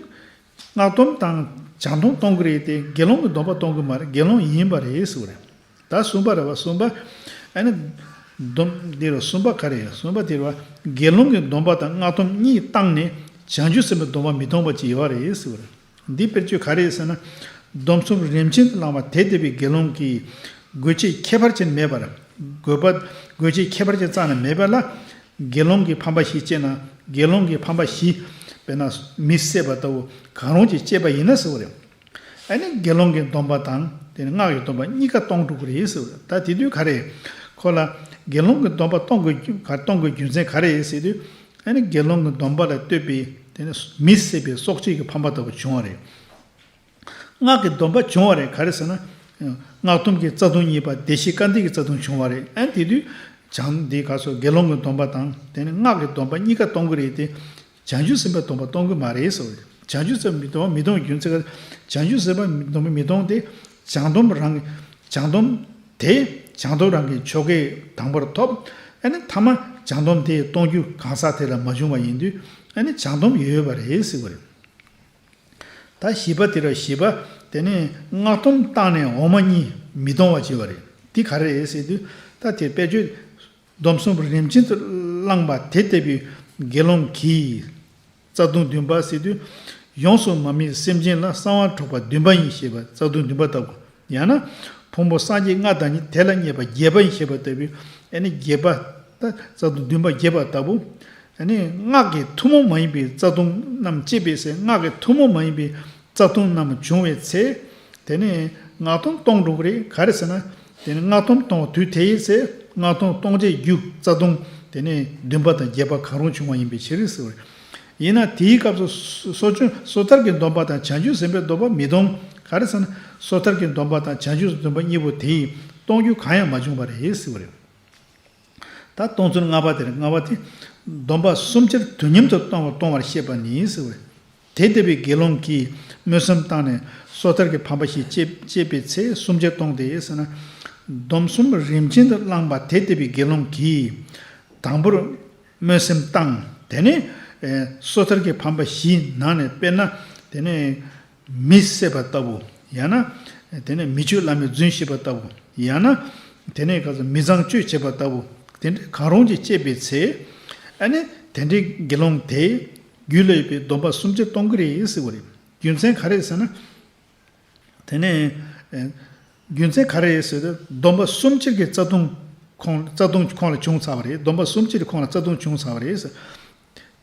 སྔགས་སྡོམ་དང་བྱང་སྡོམ་གཏོང་གི་རེད་དེ་དགེ་སློང་གི་སྡོམ་པ་གཏོང་གི་མ་རེད་དགེ་སློང་ཡིན་པ་རེད་ཟེར་བ་རེད་ད་གསུམ་པ་རེད་བ་གསུམ་པ་ཨེ་ན། སྡོམ་དེ་རུ་གསུམ་པ་ག་རེད་གསུམ་པ་དེ་རུ་བ་དགེ་སློང་གི་སྡོམ་པ་དང་སྔགས་སྡོམ་གཉིས་བཏང་ནས་བྱང་ཆུབ་སེམས་པའི་སྡོམ་པ་མི་གཏོང་བ་ཅིག་ཡོད་རེད་ཟེར་བ་རེད་འདི་དཔེར་བརྗོད་ག་རེད་ཟེར་ན། སྡོམ་གསུམ་རིམ་ཅན་དུ་བླང་བ་དེ་འདས་པའི་དགེ་སློང་གིས་དགོས་ཆེད་ཁྱད་པར་ཅན་མེད་པར་དགོས་པ་དགོས་ཆེད་ཁྱད་པར་ཅན་གཙང་ན་མེད་པས་ལ་དགེ་སློང་གིས་ཕམ་པ་བཞི་སྤྱད་ན་དགེ་སློང་གིས་ཕམ་པ་བཞི། དཔེར་ན། མི་བསད་པ་ལྟ་བུ་གང་རུང་གཅིག་སྤྱད་པ་ཡིན་ན་ཟེར་བ་རེད། ཨ་ནི་དགེ་སློང་གི་འདོམས་པ་དང་དེ་ནི་སྔགས་ཀྱི་འདོམས་པ་གཉིས་ཀ་སྟོང་དྲུག་རེད་ཟེར་བ་རེད་ད་དེ་དུས་ག་རེད། ཁོ་ལ། དགེ་སློང་གི་འདོམས་པ་གཏོང་དགོས་རྒྱུ་མཚན་ག་རེད་ཟེར་དུས། ཨ་ནི་དགེ་སློང་གི་འདོམས་པ་ལ་ལྟོས་པས་དེ་ནི་མི་བསད་པའི་སྲོག་གཅིག་གི་ཕམ་པ་ལྟ་བུ་བྱུང་བ་རེད། སྔགས་ཀྱི་སྡོམ་པ་བྱུང་བ་རེད་ག་རེ་ཟེར་ན། སྔགས་སྡོམ་གྱི་རྩ་ལྟུང་གཉིས་པ་བདེ་གཤེགས་བཀའ་འདས་ཀྱི་རྩ་ལྟུང་བྱུང་བ་རེད་ཨ། དེ་དུས་བྱང་འདི་ག་སོགས་དགེ་སློང་གི་སྡོམ་པ་དང་དེ་ནས་སྔགས་ཀྱི་སྡོམ་པ་གཉིས་ཀ་གཏོང་གི་རེད་དེ། བྱང་ཆུབ་སེམས་དཔའི་སྡོམ་པ་གཏོང་གི་མ་རེད་ཟེར་བ་རེད། བྱང་ཆུབ་སེམས་དཔའི་སྡོམ་པ་མི་གཏོང་རྒྱུ་མཚན་ག་རེ། བྱང་ཆུབ་སེམས་དཔའི་སྡོམ་པ་མི་གཏོང་སྟེ། བྱང་སྡོམ་རང་གི། བྱང་སྡོམ། དེ། བྱང་སྡོམ་རང་གི་ཆོ་གའི་དང་པོར་ཐོབ། ཨ་ནི་མཐའ་མ། བྱང་སྡོམ་དེ་གཏོང་རྒྱུ་གང་ཟག་དེ་ལ་མ་བྱུང་བ་ཡིན་དུས། ཨ་ནི་བྱང་སྡོམ་ཡོད་པ་རེད་ཟེར་བ་རེད། ད་བཞི་པ་དེ་ར་བཞི་པ། དེ་ནས་སྔགས་སྡོམ་བཏང་ནས་འོག་མ་གཉིས་མི་གཏོང་བར་བྱེད་པ་རེད། འདི་ག་རེད་ཟེར་དུས། ད་དེར་དཔལ་ཆོས་སྡོམ་གསུམ་པོ་རིམ་ཅན་དུ་བླངས་པ་དེ་ལྟ་བུའི་དགེ་སློང་གིས། རྩ་ལྟུང་བདུན་པ་ཟེར་དུས། ཡོངས་སུ་མ་སྨིན་སེམས་ཅན་ལ་གསང་བ་འཕྲོག་པ་བདུན་པ་ཡིན་ཞེས་པ་རྩ་ལྟུང་བདུན་པ་ལྟ་བུ་ཡང་ན། ཕུང་པོ་སངས་རྒྱས་ལྔ་དང་ནི་དེ་ལ་མཉེས་པ་བརྒྱད་པ་ཡིན་ཞེས་པ་ལྟ་བུའི། བརྒྱད་པ། རྩ་ལྟུང་བདུན་པ་བརྒྱད་པ་ལྟ་བུ། སྔགས་ཀྱི་ཐུན་མོང་མ་ཡིན་པའི་རྩ་ལྟུང་རྣམས་སྐྱེས་པའི་ཚེ་སྔགས་ཀྱི་ཐུན་མོང་མ་ཡིན་པའི་རྩ་ལྟུང་རྣམས་འབྱུང་བའི་ཚེ། དེ་ནི། སྔགས་ཐུན་སྟོང་འགྲོ་གི་རེད་ག་རེ་ཟེར་ན། དེ་ནི་སྔགས་ཐུན་སྟོང་བ་དུས་དེའི་ཚེ་སྔགས་ཐུན་སྟོང་བྱེད་རྒྱུ་རྩ་ལྟུང། དེ་ནི་བདུན་པ་དང་བརྒྱད་པ་གང་རུང་འབྱུང་བ་ཡིན་པའི་ཕྱིར། ཡིན་ན་དེའི་སྐབས་སུ་སོ་སྐྱོན་སོ་ཐར་གྱི་སྡོམ་པ་དང་བྱང་ཆུབ་སེམས་དཔའི་སྡོམ་པ་མི་གཏོང། ག་རེ་ཟེར་ན། སོ་ཐར་གྱི་སྡོམ་པ་དང་བྱང་ཆུབ་སེམས་དཔའི་སྡོམ་པ་གཉིས་པོ་དེ་ཡིས་གཏོང་རྒྱུ་གང་ཡང་མ་བྱུང་བ་རེད་ཟེར་བ་རེད། ད་གཏོང་ཚུལ་ལྔ་པ་དེར་ལྔ་བ་དེ། སྡོམ་པ་གསུམ་ཅིར་དུ་ཉམས་སུ་བཏང་བ་གཏོང་བར་བཤད་པ་ནི་ཟེར་བ་རེད། དེ་ལྟ་བུའི་དགེ་སློང་གིས་སྨོན་སེམས་བཏང་ནས་སོ་ཐར་གྱི་ཕམ་པ་ཞིག་བཅད་པའི་ཚེ་གསུམ་ཅིར་གཏོང་སྟེ་ཟེར་ན། སྡོམ་གསུམ་རིམ་ཅན་དུ་བླངས་པ་དེ་ལྟ་བུའི་དགེ་སློང་གིས། དང་པོར། སྨོན་སེམས་བཏང། དེ་ནས། སོ་ཐར་གྱི་ཕམ་པ་བཞི་ནང་ནས་དཔེར་ན། དེ་ནས། མི་བསད་པ་ལྟ་བུ། ཡང་ན། དེ་ནས་མི་ཆོས་བླ་མེད་རྫུན་བཤད་པ་ལྟ་བུ། ཡང་ན། དེ་ནས་ག་ཚོད་མི་བཟང་སྤྱོད་བྱེད་པ་ལྟ་བུ། དེ་འདྲ་གང་རུང་ཅིག་སྤྱད་པའི་ཚེ། ཨ་ནི། དེ་འདྲའི་དགེ་སློང་དེས། རྒྱུད་ལ་ཡོད་པའི་སྡོམ་པ་སུམ་ཅུ་སྟོང་གི་རེ་ཟིག་བ་རེ། རྒྱུ་མཚན་ག་རེད་ཟེར་ན། དེ་ནས། རྒྱུ་མཚན་ག་རེ་ཟེར་ན་སྡོམ་པ་གསུམ་སྤྱིར་གྱི་རྩ་ལྟུང་ཁོང་ལ་བྱུང་ཚར་བ་རེད། སྡོམ་པ་གསུམ་སྤྱིར་ཁོང་ལ་རྩ་ལྟུང་བྱུང་ཚར་བ་རེད།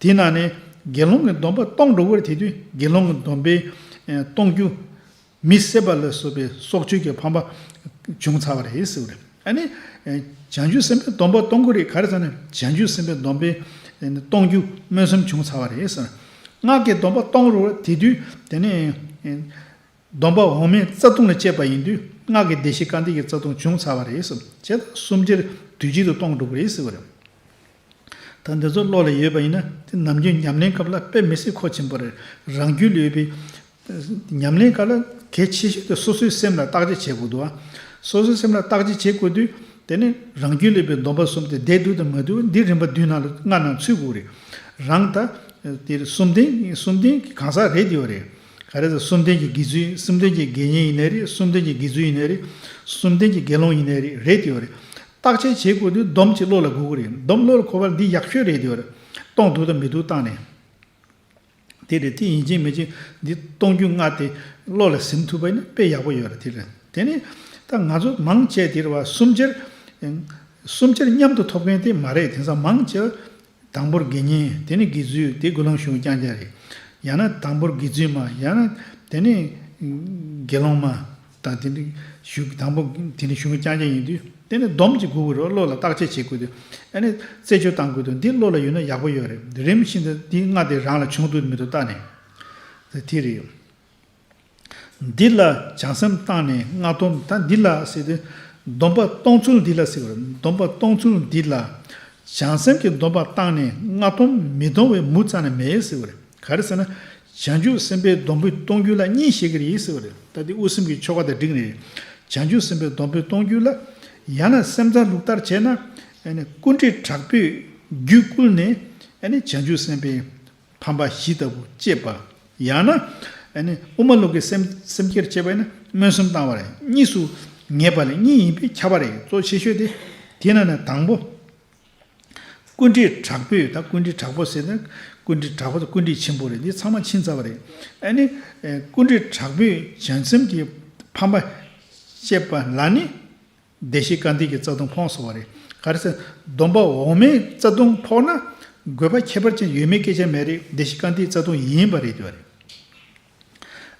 དེའི་ནང་ནས་དགེ་སློང་གི་སྡོམ་པ་གཏོང་འགྲོ་བར་དེ་དུས་དགེ་སློང་གི་སྡོམ་པའི་གཏོང་རྒྱུ། མི་བསད་པ་ལ་སོགས་པའི་སྲོག་གཅོད་ཀྱི་ཕམ་པ་བྱུང་ཚར་བ་རེད། ཨ་ནི། བྱང་ཆུབ་སེམས་དཔའི་སྡོམ་པ་གཏོང་གི་རེད་ག་རེ་ཙམ་ནས་བྱང་ཆུབ་སེམས་དཔའི་སྡོམ་པའི་གཏོང་རྒྱུ་སྨོན་སུམ་བྱུང་ཚར་བ་རེད། སྔགས་ཀྱི་སྡོམ་པ་གཏོང་རོགས་རེད་དེ་དུས་དེ་ནས། སྡོམ་པ་འོག་མའི་རྩ་ལྟུང་ལ་བཅས་པ་ཡིན་དུས་སྔགས་ཀྱི་བདེ་གཤེགས་བཀའ་འདས་ཀྱི་རྩ་ལྟུང་བྱུང་ཚར་བ་རེད། བྱས་ཙང་སུམ་ཅིར་དུས་གཅིག་ཏུ་གཏོང་འགྲོ་གི་རེད་ཟེར་བ་རེད། ད་འདི་ཚོ་བློ་ལ་ཡོད་པ་ཡིན་ན་དེ་ནམ་རྒྱུན་ཉམས་ལེན་སྐབས་ལ་དཔེ་མི་སྲིད་ཁོ་ཆེན་པོ་རེད་རང་རྒྱུད་ལ་ཡོད་པའི། ཉམས་ལེན་སྐབས་ལ་གལ་ཆེ་ཤོས་དེ་སོ་སོའི་སེམས་ལ་བརྟག་དཔྱད་བྱེད་དགོས་འདུག་ཨ། སོ་སོའི་སེམས་ལ་བརྟག་དཔྱད་བྱེད་དགོས་དུས་དེ་ནི་རང་རྒྱུད་ལ་ཡོད་པའི་སྡོམ་པ་གསུམ་དེ་བདེ་སྡུག་དང་མ་སྡུག་འདི་རིམ་པ་བདུན་ནང་ལ་སྔར་ནང་ཚུད་དགོས་རེད། རང་ད། དེ་གསུམ་ལྡན་གསུམ་ལྡན་གང་ཟག་རེད་དེ་ཡོད་རེད། ག་རེ་ཟེར་གསུམ་ལྡན་གྱི་དགེ་ཚུལ་གསུམ་ལྡན་གྱི་དགེ་བསྙེན་ཡིན་ནའི་རེད་གསུམ་ལྡན་གྱི་དགེ་ཚུལ་ཡིན་ནའི་རེད་གསུམ་ལྡན་གྱི་དགེ་སློང་ཡིན་ནའི་རེད་རེད་དེ་ཡོད་རེད། བརྟག་དཔྱད་བྱེད་དགོས་དུས་སྡོམ་གྱིས་བློ་ལ་འགུག་གི་རེད་སྡོམ་བློ་ལ་འཁོར་བ་འདི་ཡག་ཤོས་རེད་དེ་ཡོད་རེད། གཏོང་འདུག་དང་མི་འདུག་བརྟག་ནས། དེ་རེད་དེ་ཡིན་གཅིག་མིན་གཅིག་འདི་གཏོང་རྒྱུ་ལྔ་དེ་བློ་ལ་ཟིན་ཐུབ་པ་ཡིན་ན་དཔེ་ཡག་པོ་ཡོད་རེད་དེ་རེད་དེ་ནི། ད་ང་ཚོ་མང་ཆེ་དེར་བ་གསུམ་ཆར། གསུམ་ཆར་མཉམ་དུ་ཐོབ་མཁན་དེ་མ་རེད་དེང་སང་མང་ཆེ་བ། དང་པོར་དགེ་བསྙེན་དེ་ནི་དགེ་ཚུལ་དེ་དགུ་ལོང་གཞུང་རྐྱང་རྐྱང་རེད། ཡང་ན་དང་པོར་དགེ་ཚུལ་མ་ཡང་ན་དེ་ནི་དགེ་སློང་མ་དང་དེ་ནི་གཞུང་དང་པོ་དེ་ནི་གཞུང་རྐྱང་རྐྱང་ཡིན་དུས་དེ་ནི་སྡོམ་གྱི་དགུ་རུ་བློ་ལ་བརྟག་དཔྱད་བྱེད་དགོས་དུས་ཨེ་ནི་རྩད་གཅོད་བཏང་དགོས་དུས་འདི་བློ་ལ་ཡོད་ན་ཡག་པོ་ཡོད་རེད་རིམ་བཞིན་དུ་འདི་ལྔ་དེ་རང་ལ་བྱུང་དུས་མི་དུ་བལྟ་ནས་དེ་རེད། འདི་ལ་བྱང་སེམས་བཏང་ནས་སྔགས་སྡོམ་ད་འདི་ལ་ཟེར་ཏེ། སྡོམ་པ་གཏོང་ཚུལ་འདི་ལ་ཟེར་བར་སྡོམ་པ་གཏོང་ཚུལ་འདི་ལ། བྱང་སེམས་ཀྱི་སྡོམ་པ་བཏང་ནས་སྔགས་སྡོམ་མི་གཏོང་བའི་མུ་ཙམ་ན་མེད་ཟེར་བར་ག་རེ་ཟེར་ན། བྱང་ཆུབ་སེམས་དཔའི་སྡོམ་པོའི་གཏོང་རྒྱུ་ལ་གཉིས་བཤད་ཀྱི་རེད་ཟེར་བར་ད་འདི་དབུ་སེམས་ཀྱི་ཆོ་ག་དང་འགྲིག་ནི། བྱང་ཆུབ་སེམས་དཔའི་སྡོམ་པོའི་གཏོང་རྒྱུ་ལ། ཡང་ན་སེམས་ཙམ་ལུགས་ལྟར་བྱས་ན། ཀུན་དཀྲིས་དྲག་པོས་རྒྱུད་བསྐུལ་ནས། བྱང་ཆུབ་སེམས་དཔའི། ཕམ་པ་བཞི་ལྟ་བུ་སྤྱད་པ། ཡང་ན། དབུ་མ་ལུགས་ཀྱི་སེམས་བསྐྱེད་སྤྱད་པས་ན་མངོན་སུམ་བཏང་བ་ལས་གཉིས་སུ་ངེས་པ་ལས་གཉིས་ཡིན་པས་ཁྱབ་པ་རེ་གཙོ་ཆེ་ཤོས་ཏེ། དེས་ན་ནི་དང་པོ། ཀུན་དཀྲིས་དྲག་པོས་དང་ཀུན་དཀྲིས་དྲག་པོ་ཟེར་ན་ཀུན་དཀྲིས་དྲག་པོ་དང་ཀུན་དཀྲིས་ཆེན་པོ་རེ་འདི་ཚང་མ་ཕྱིན་ཚར་བ་རེད། ཀུན་དཀྲིས་དྲག་པོས་བྱང་སེམས་ཀྱི་ཕམ་པ་སྤྱད་པ་ལ་ནི། བདེ་གཤེགས་བཀའ་འདས་ཀྱི་རྩ་ལྟུང་ཕོངས་སོ་བ་རེད། ག་རེ་ཟེར། སྡོམ་པ་འོག་མའི་རྩ་ལྟུང་ཕོག་ན། དགོས་པ་ཁྱད་པར་ཅན་ཡོད་མེད་སྐད་ཆ་མེད་རེད་བདེ་གཤེགས་བཀའ་འདས་རྩ་ལྟུང་ཡིན་པ་རེད་ཟེར་བ་རེད།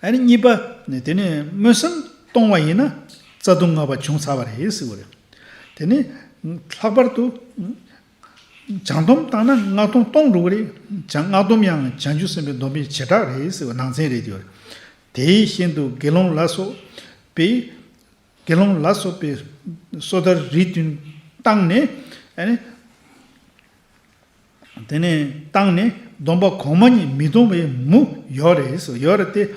ཨ་ནི་གཉིས་པ། དེ་ནི་སྨོན་སེམས་གཏོང་བ་ཡིན་ན། རྩ་ལྟུང་ལྔ་པ་བྱུང་ཚར་བ་རེད་ཟེར་བ་རེད། དེ་ནི། ལྷག་པར་དུ། བྱང་སྡོམ་བཏང་ན་སྔགས་སྡོམ་གཏོང་འགྲོ་གི་རེད། བྱང་སྔགས་སྡོམ་ཡང་བྱང་ཆུབ་སེམས་དཔའི་སྡོམ་པའི་བྱེ་བྲག་རེད་ཟེར་བ་ནང་ཚན་རེད་ཟེར་བ་རེད། དེའི་ཤིན་ཏུ་དགེ་སློང་ལ་སོགས་པའི། དགེ་སློང་ལ་སོགས་པའི་སོ་ཐར་རིས་བདུན་བཏང་ནས། དེ་ནས་བཏང་ནས་སྡོམ་པ་གོང་མ་ཉིད་མི་གཏོང་བའི་མུ། ཡོ་རེ་སོ་ཡོ་རེ་སྟེ།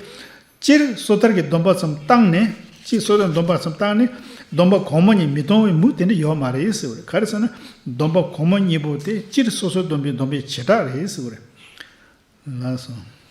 སྤྱིར་སོ་ཐར་གྱི་སྡོམ་པ་ཙམ་བཏང་ནས། སྤྱིར་སོ་ཐར་གྱི་སྡོམ་པ་ཙམ་བཏང་ནས། སྡོམ་པ་གོང་མ་ཉིད་མི་གཏོང་བའི་མུ་དེ་འདྲ་ཡོད་མ་རེད་ཟེར་བ་རེད། ག་རེ་ཟེར་ན། སྡོམ་པ་གོང་མ་གཉིས་པོ་དེ་སྤྱིར་སོ་སོའི་སྡོམ་པའི་སྡོམ་པའི་བྱེ་བྲག་རེད་ཟེར་བ་རེད། ལ་སོ།